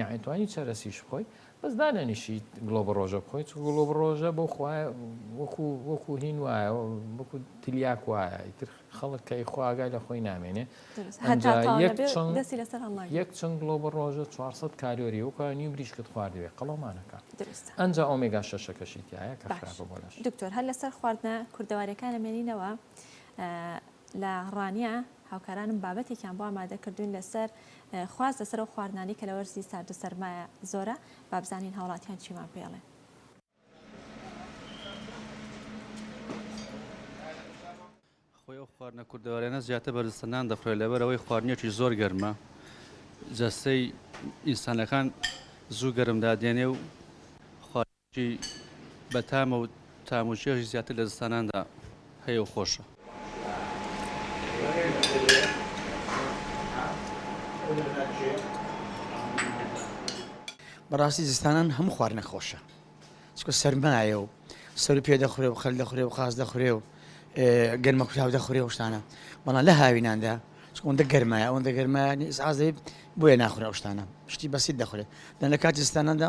یەعنی توانی چەرەسیش بخۆی بەس دانەنیشی گڵۆ بە ڕۆژە بخۆی چ گوڵۆ بە ڕۆژە بۆ خوای وەکو وەکو هین وایە وەکو تلیاک وایە ئیتر خەڵک کە خواگای لە خۆی نامێنێ یەک چەند گڵۆ بە ڕۆژە 400 کالۆری وکە نیو بریشکت خواردوێ قەڵەمانەکە ئەنج ئۆمێگا شەشەکەشی تایە کە دکتۆر هەر لەسەر خواردنە کوردەوارەکانە مێنینەوە لە ڕانە هاوکارانم بابەتێکیان بۆ ئامادە کردووین لەسەر خواست لەسەر ئەو خواردنانەی کە لە وەرزی سارد و سەرمایە زۆرە، با بزانین هاوڵاتیان چیمان پێ ئەڵێن. خۆی ئەو خواردنە کوردەواریانە زیاتر بە جەستە نان دەخورێت لەبەر ئەوەی خواردنێکی زۆر گەرمە جەستەی ئینسانەکان زوو گەرم دادێنێ و چی بە تامە و تام و چێژی زیاتر لە زستاناندا هەیە و خۆشە. بەڕاستی زستانان هەموو خواردنەک خۆشە چکە سەرمایە و سەرو پێ دەخورێ و خەل دەخورێ و قاز دەخورێ و گەرمە کوتاو دەخورێ شتانە بەڵام لە هاویناندا چکۆندە گەرمایە ئەوەندە گەرمایە ئازەی بۆیە ناخورا شتانە شتی بەسیت دەخورێت دەن لە کاتی زستاناندا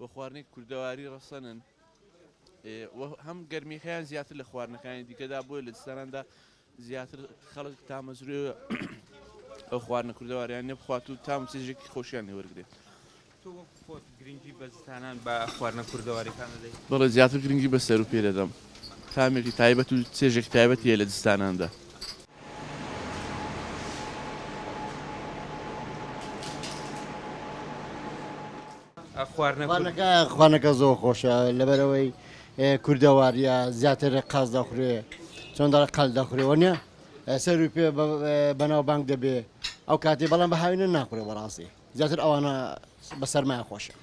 و خواردنێکی کوردەواری ڕەسەنن و هەم گەرمیەکەیان زیاتر لە خواردنەکانی دیکەدا بۆیە لە دستاناندا زیاتر خەڵک تامەزروێ ئەو خواردنە کوردەواریان نەبخوات و تام چێژێکی خۆشیان لێوەرگێت. خۆت گرنگی بەزستانان بە خواردنە کوردەوارەکان دەدەیت بەڵێ زیاتر گرنگی بە سەر و پێ دەدەم تامێکی تایبەت و چێژێک تایبەتیە لە دستاناندا. خوانەکە زۆر خۆشە لەبەرەوەی کوردەواریە زیاتر قاز دەخورێ چۆندا قەل دەخورێەوە نیە سەروی پێ بەناو بانگ دەبێ ئەو کاتی بەڵام بە هاوینە ناخورێ بەڕاستی زیاتر ئەوانە بە سەرمایە خۆشن.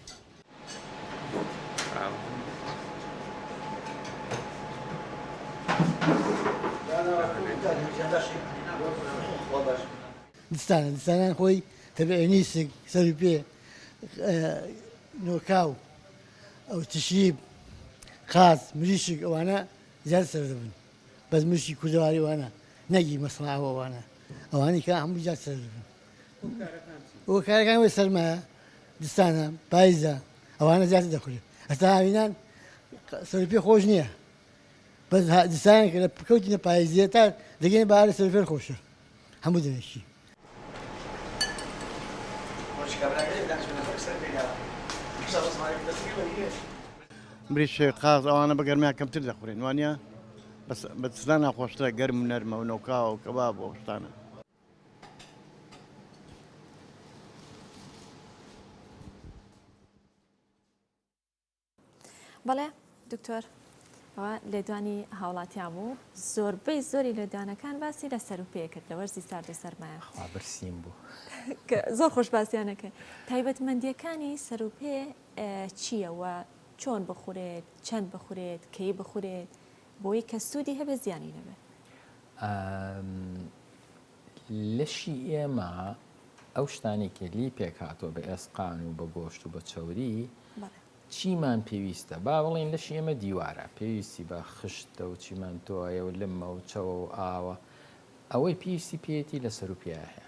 دستانە دستانان خۆی تەبعێنیسک سەری پێ نۆکاو ئەو تشیب قاز مریشک ئەوانە زیاد سەر دەبن بەس مشی کوردەواریوانە نەگی مەسڵاوەوانە ئەوانی کە هەموو زیاد سەر دەبن هۆکارەکان وەی سەرمایە دستانە پایزە ئەوانە زیاتر دەخورێت ئەستا هاوینان سەر پێ خۆش نییە بەس دستان کە لە پکەوتی لە پایزیە تا دەگەین بارە سەر فێر خۆشە هەموو دەوێشی بریش قاز ئەوانە بە گەرمیان کەمتر دەخورێن وانە بە سزان ناخۆشترە گەرم نەرمە و نەوکاوە و کەباب بۆ شتانە بەڵێ دکتۆر ئەوە لێدوانی هاوڵاتیان بوو زۆربەی زۆری لێدوانەکان باسی لە سەر و پێکرد لە وەرزی سارد و سەرمایە برسیم بوو زۆر خۆش باسییانەکە تایبەتمەندیەکانی سەر و پێ چییەوە چۆن بخورێت چەند بخورێت کەی بخورێت بۆی کە سودی هەبێ زیانی نەبێ. ئە لەشی ئێمە ئەو شتانی کە لی پێک هاتووە بە ئێسقان و بە گۆشت و بە چەوری چیمان پێویستە با بڵین لەشی ئێمە دیوارە پێویستی بە خشتە و چیمەندۆە و لمە و چەوە و ئاوە ئەوەی پێویستی پێێتی لە سەر و پیاهەیە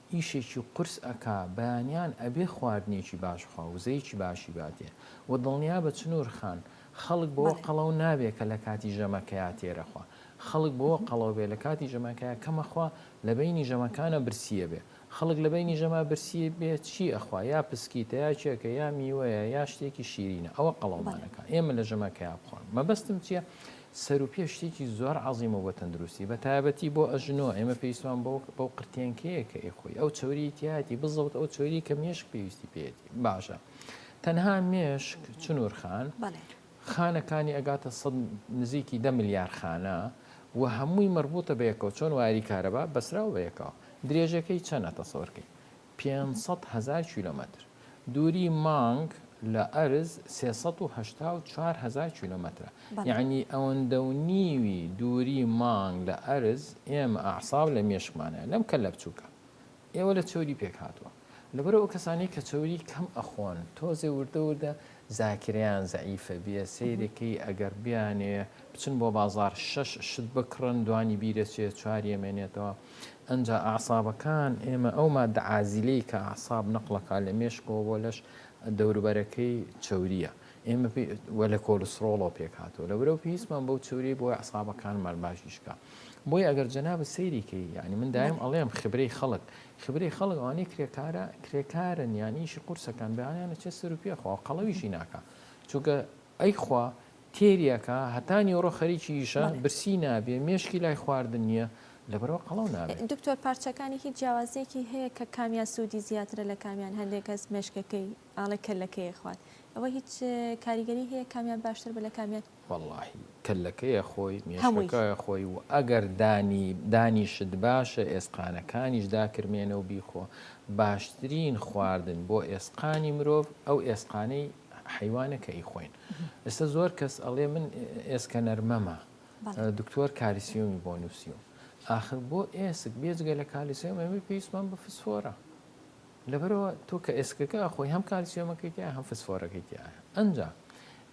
ئیشێکی قورس ئەکا بەیانیان ئەبێ خواردنێکی باش بخوا وزەیەکی باشی باتێ وە دڵنیابە چنور خان خەڵک بەوە بەڵێ. قەڵەو نابێ کە لەکاتی ژەمەکەیا تێرە خوا خەڵک بەوە قەڵەو بێ لەکاتی ژەمەکەیا کەمە خوا لەبەینی ژەمەکانا برسیە بێ خەڵک لەبەینی ژەما برسی بێ چی ئەخوا یا پسکیتە یا کێکە یا میوەیە یا شتێکی شیرینە ئەوە قەڵەومان بەڵێ. ئەکا ئێمە لە ژەمەکەیا بخۆن مەبەستم چیە سەروپێ شتێکی زۆر عەزیمە بۆ تەندروستی بە تایەبەتی بۆ ئەژنۆ ئێمە پێویستمان بەو بەو قرتێنکەیە کە ئەی خۆی ئەو چەوریی تیایەتی بزەوت ئەو چەوری کە مێشک پێویستی پێیەتی باشە تەنها مێشک چنور خان خانەکانی ئەگاتە سەد نزیکی دە ملیار خانە و هەمووی مەربوتە بەیەکەوە چۆن وایەری کارەبا بەسراو بەیەکەوە درێژەکەی چەنە تەسەورکەی پێنج سەد هەزار کیلۆمەتر دووری مانگ لە ئەرز سێ سەد و هەشتا و چوار هەزار کیلۆمەترە یعنی ئەوەندە و نیوی دووری مانگ لە ئەرز ئێمە ئەعصاب لە مێشکمانە لەم کەللە بچووکە ئێوە لە چەوری پێک هاتووە لەبەرە ئەو کەسانی کە چەوری کەم ئەخۆن تۆزێ وردە وردە زاکرەیان زەعیفە بێ سەیرەکەی ئەگەر بیانێ بچن بۆ بازار شەش شت بکڕن دوانی بیرەچێ چوار یەمێنێتەوە ئەنجا ئەعسابەکان، ئێمە ئەو ماددە عازیلەی کە ئەعساب نەقڵەکا لە مێشکەوە بۆ لەش دەوروبەرەکەی چەورییە ئێمە پێی و لە کۆلسترۆڵەوە پێکهاتووە لە برەو پێویستمان بەو چەوریی بۆ ئەعسابەکانمان باشیشکا بۆی ئەگەر جەنابت سەیریکەی یعنی من دایم ئەڵێم خبرەی خەڵک خبرەی خەڵک ئەوانەی کرێکارە کرێکارن یانیشی قورسەکان بەیانیانە چێ سەر و پێخوا قەڵەویشی ناکە چونکە ئەیخوا تێری ئەکا هەتا نیوەڕۆ خەریکی ئیشە بەڵێ. برسی نابێ مێشکی لای خواردن نیە لەبەرئەوە قەڵەو نابێ. دکتۆر پارچەکانی هیچ جیاوازیەکی هەیە کە کامیان سودی زیاترە لە کامیان هەندێک کەس مێشکەکەی ئاڵی کەللەکەی ئەخوات ئەوە هیچ کاریگەری هەیە کامیان باشتر بە لە کامیان. وەڵاهی کەللەکەی ئەخۆی هەمووی. مێشکەکە ئەخۆی و ئەگەر دانی دانیشت باشە ئێسقانەکانیش داکرمێنە و بیخۆ باشترین خواردن بۆ ئێسقانی مرۆڤ ئەو ئێسقانەی حەیوانە کە ئیخۆین ئێستا زۆر کەس ئەڵێ من ئێسکەنەر مەمە دکتۆر کالیسیۆمی بۆ نووسیوم ئاخر بۆ ئێسک بێجگە لە کالیسیۆم ئەمە پێویستمان بە فسفۆرە لەبەرەوە تۆ کە ئێسکەکە خۆی هەم کالیسیۆمەکەی تیا هەم فسفۆرەکەی تیا ئەنجا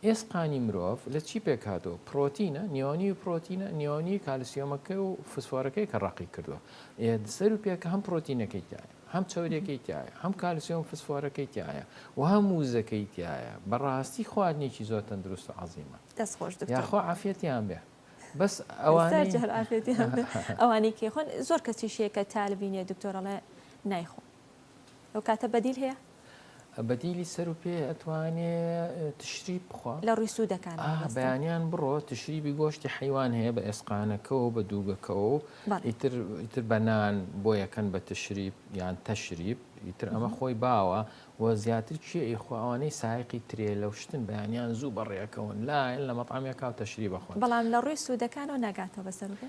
ئێسقانی مرۆڤ لە چی پێکاتەوە پرۆتینە نیۆنی و پرۆتینە نیۆنی کالیسیۆمەکە و فسفۆرەکەی کە ڕقی کردووە سەر و پێکە هەم پرۆتینەکەی تایە هەم چەوریەکەی تیایە هەم کالسیۆم فسفۆرەکەی تیایە و هەم وزەکەی تیایە بەڕاستی خواردنێکی زۆر تەندروست و عەزیمە دەست خۆش دکتۆر یاخوا عافیەتیان بێ بەس ئەوانەی جار عافیەتیان بێ ئەوانەی کێ خۆن زۆر کەسیش هەیە کە تالبینێ دکتۆر ئەڵێ نایخۆم ئەو کاتە بەدیل هەیە بەدیلی سەرو پێ ئەتوانێ تشری بخوا لە ڕووی سوودەکان ئا مامۆستا بەیانیان بڕۆ تشریبی گۆشتی حیوان هەیە بە ئێسقانەکەەوە بە دووگەکەەوە و بەڵێ ئیتر ئیتر بە نان بۆ یەکەن بە تشریب یان تەشریب ئیتر ئەمە مهم. خۆی باوە و زیاتر کێ ئیخوا ئەوانەی سایەقی ترێلە و شتن بەیانیان زوو بەڕێکەون لایەن لە مەتعەمێکا و تشریب ئەخۆن بەڵام لە ڕووی سوودەکانەوە ناگاتەوە بە سەرو پێ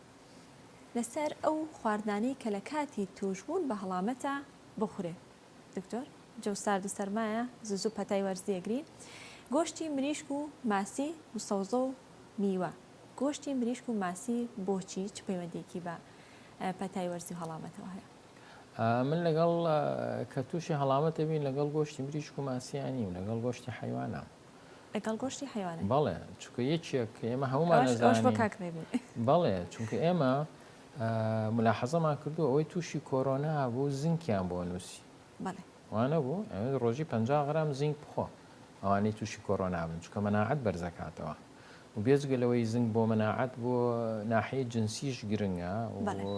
لەسەر ئەو خواردنانەی کە لە کاتی تووشبوون بە هەڵامەتە بخورێ دکتۆر جەو سارد و سەرمایە زوزو پەتای وەرزی ئەگری گۆشتی مریشک و ماسی و سەوزە و میوە گۆشتی مریشک و ماسی بۆچی چ پەیوەندیەکی بە پەتای وەرزی و هەڵامەتەوە هەیە؟ من لەگەڵ کە تووشی هەڵامەتە بین لەگەڵ گۆشتی مریشک و ماسییە نیم لەگەڵ گۆشتی حەیوانام. لەگەڵ گۆشتی حەیوانێ بەڵێ چونکە یەکێک ئێمە هەمومان ئەوەش ئەوەش بۆ ئەزانین کاک ڕێبین بەڵێ چونکە ئێمە ئا، ملاحەزەمان کردو ئەوەی تووشی کۆرۆنا بوو زینکیان بۆ نووسی بەڵێ وانەبوو ئەوێ ڕۆژی پەنجا غرام زینک بخۆ ئەوانەی تووشی کۆرۆنا بن چونکە مەناعەت بەرزەکاتەوە و بێجگە لەوەی زنک بۆ مەناعەت بۆ ناحیەی جنسیش گرنگە بەڵێ و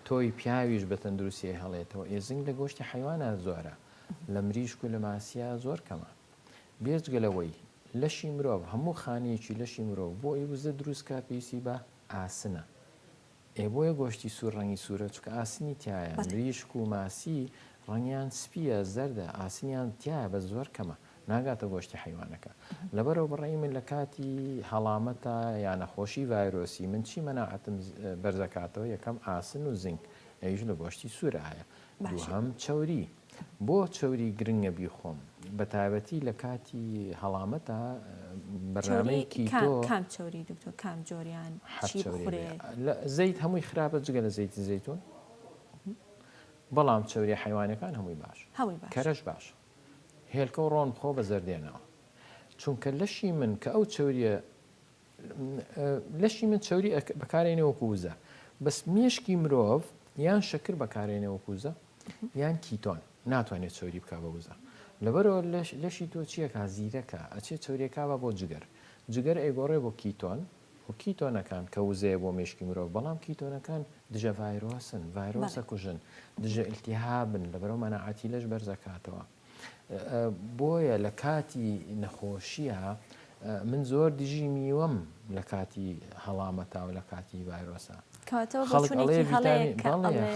تۆوی پیاویش بە تەندروستی هەڵێتەوە ئێ زنک لە گۆشتی حەیوانە زۆرە لە مریشک و لە ماسیە زۆر کەمە. بێجگە لەوەی لەشی مرۆڤ هەموو خانەیەکی لەشی مرۆڤ بۆ ئەوی وزە دروست کات پێویستی بە ئاسنە ئێ بۆیە گۆشتی سوور ڕەنگی سوورە چونکە ئاسنی تیایە مریشک و ماسی ڕەنگیان سپیە زەردە ئاسنیان تیایە بەس زۆر کەمە ناگاتە گۆشتی حەیوانەکە لەبەرەوە بەڕای من لە کاتی هەڵامەتا یا نەخۆشی ڤایرۆسی من چی مەناعەتم بەرزەکاتەوە یەکەم ئاسن و زینک ئەویش لە گۆشتی سوورە هەیە دووهەم چەوری بۆ چەوری گرنگە بیخۆم بەتایبەتی لە کاتی هەڵامەتا بەرنامەی کیتۆ. کام چەوری دکتۆر کام جۆریان چی بخورێ؟ زەیت هەمووی خراپە جگە لە زەیتی زەیتون بەڵام چەوری حیوانەکان هەمووی باش کەرەش باش هێلکە و ڕۆن خۆ بە زەردێنەوە چونکە لەشی من کە ئەو چەوریە لەشی من چەوری بەکارێنێ وەکو وزە بەس مێشکی مرۆڤ یان شەکر بەکارێنێ وەکو وزە یان کیتۆن ناتوانێت چەوری بک بە وزە لەبەرەوە لەشی تۆ چیەکە زیرەکە ئەچێ چەوریەکە بە بۆ جگەر جگەر ئەیگۆڕێ بۆ کیتۆن و کیتۆنەکان کە وزەیە بۆ مێشکی مرۆڤ بەڵام کیتۆنەکان دژە ڤایرۆسن ڤایرۆسە کوژن دژە ئلتیهابن لەبەرەوە مەناعاتی لەش بەرزەکاتەوە. بۆیە لە کاتی نەخۆشییا من زۆر دژی میوەم لە کاتی هەڵامەتا و لە کاتی ڤایرۆسە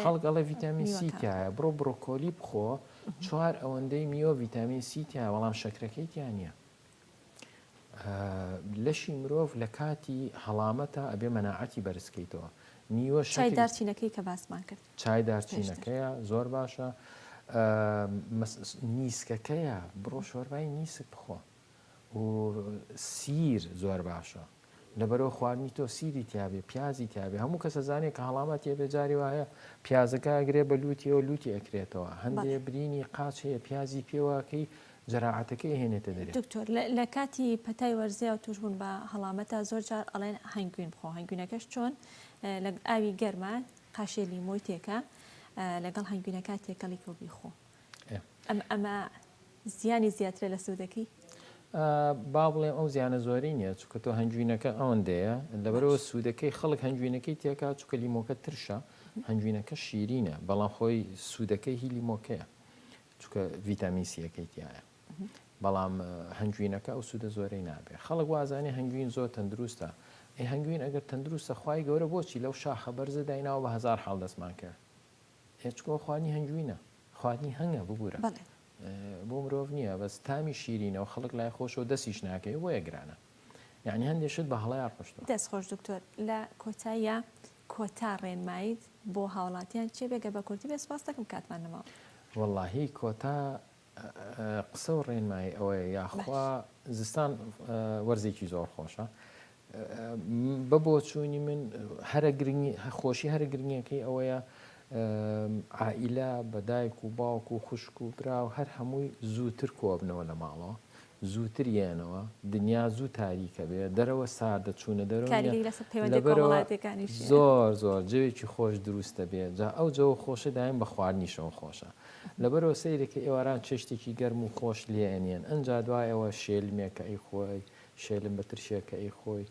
خەڵک ئەڵێ ڤیتامین سیتیایە بڕۆ بڕۆکۆلی بخۆ چوار ئەوەندەی میوە ڤیتامین سیتیایە بەڵام شەکرەکەی تیانە لەشی مرۆڤ لە کاتی هەڵامەتا ئەبێ مەناعەتی بەرز کەیتەوە نیوە چای شەکری دارچینەکەی کە باسمان کرد چای پێشتر دارچینەکەیە زۆر باشە مەس نیسکەکەیە بڕۆ شۆربای نیسک بخۆ و سیر زۆر باشە. لەبەرئەوە خواردنی تۆ سیری تیابێ پیازی تیابێ هەموو کەس ئەزانێ کە هەڵامەت تێبێ جاری وایە پیازەکە ئەگرێ بە لووتیەوە لووتی ئەکرێتەوە هەندێ برینی قاچ هەیە پیازی پێواکەی جەراعەتەکەی هێنێتە دەرێ. دکتۆر لە کاتی پەتای وەرزیا و تووشبوون بە هەڵامەتا زۆر جار ئەڵێن هەنگوین بخۆ هەنگوینەکەش چۆن لە ئاوی گەرما قاشێ لیمۆی تێکە لەگەڵ هەنگوینەکە تێکەڵی کە و بیخۆ ئەم ئەمە زیانی زیاترە لە سوودەکەی؟ با بڵێم ئەو زیانە زۆری نییە چکە تۆ هەنجوینەکە ئەوەندەیە لەبەرەوە سوودەکەی خەڵک هەنجوینەکەی تێکا چکە لیمۆکە ترشە هەنجوینەکە شیرینە بەڵام خۆی سوودەکەی هی لیمۆکەیە چکە ڤیتامین سیەکەی تایە بەڵام هەنجوینەکە ئەو سوودە زۆرەی نابێت خەڵک وازانێ هەنگوین زۆر تەندروستە ئەی هەنگوین ئەگەر تەندروستە خی گەورە بۆچی لەو شاخە بەرزە دایناوە بە هزار حاڵ دەستمان کرد هێچکۆ خوانی هەنگوینە خوانی هەنگە ببورە بەڵێ بۆ مرۆڤ نییە بەس تامی شیرینەوە خەڵک لای خۆشەوە دەسیش ناکەی بۆیە گرانە یعنی هەندێک شت بە هەڵەیا ڕۆشتوە دەست خۆش دکتۆر لە کۆتاییا کۆتا ڕێنماییت بۆ هاوڵاتیان چیە بێ گەر بە کورتی بێ سوپاستەکەم کاتمان نەماوە. وەڵاهی کۆتا قسە و ڕێنمایی ئەوەیە یاخوا زستان وەرزێکی زۆر خۆشە بە بۆچوونی من هەرە گرنگی خۆشی هەرە گرنگەکەی ئەوەیە عائیلە بە دایک و باوک و خوشک و برا و هەر هەمووی زووتر کۆبنەوە لە ماڵەوە زووتر یەنەوە، دنیا زوو تاریک ئەبێ، دەرەوە ساردە، چوونە دەرەوە نییە، کاریگەری لەسەر پەیوەندییە لەبەرئەوە کۆمەڵایەتییەکانیش هەیە. زۆر زۆر جەوێکی خۆش دروست ئەبێ، جا ئەو جەوە خۆشە دایەن بە خواردنیشەوە خۆشە، لەبەرئەوە سەیرە کە ئێواران چێشتێکی گەرم و خۆش لێ ئەنێن، ئەنجا دوایەوە شێلمێک کە ئەیخۆی، شێلم بە ترشێک کە ئەیخۆی،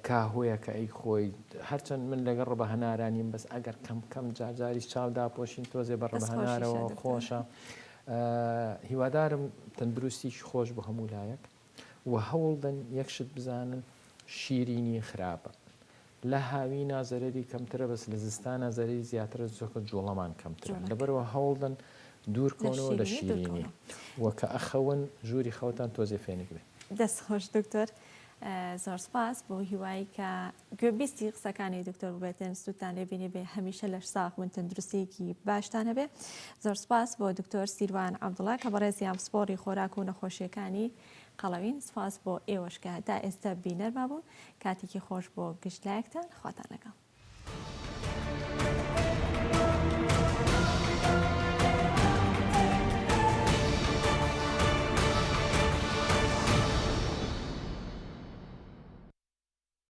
کاهوەیەک کە ئەیخۆی، هەرچەند من لەگەڵ ڕەبە هەنارا نیم، بەس ئەگەر کەم کەم جار جاریش چاو داپۆشین تۆزێ بە ڕەبە هەنارەوە خۆشە. هیوادارم تەندروستیکی خۆش بۆ هەموو لایەک وە هەوڵدەن یەک شت بزانن شیرینی خراپە لە هاوینا زەرەری کەمترە بەس لە زستانا زەرەری زیاترە چۆکە جوڵەمان کەمترە لەبەرەوە هەوڵدەن دوور کەونەوە لە شیرینی وە کە ئەخەون ژووری خەوتان تۆزێ فێنک بێ. دەست خۆش دکتۆر زۆر سوپاس بۆ هیوای کە گوێبیستی قسەکانی دکتۆر بێتێن سوودتان لێبینی بێ هەمیشە لەش ساخ بن تەندروستیەکی باشتان هەبێ زۆر سپاس بۆ دکتۆر سیروان عبدڵە کە بەڕێزیان پسپۆری خۆراک و نەخۆشیەکانی قەڵەوین سپاس بۆ ئێوەشکە تا ئێستا بینەرما بوون کاتێکی خۆش بۆ گشت لایەکتان خواتان لەگەڵ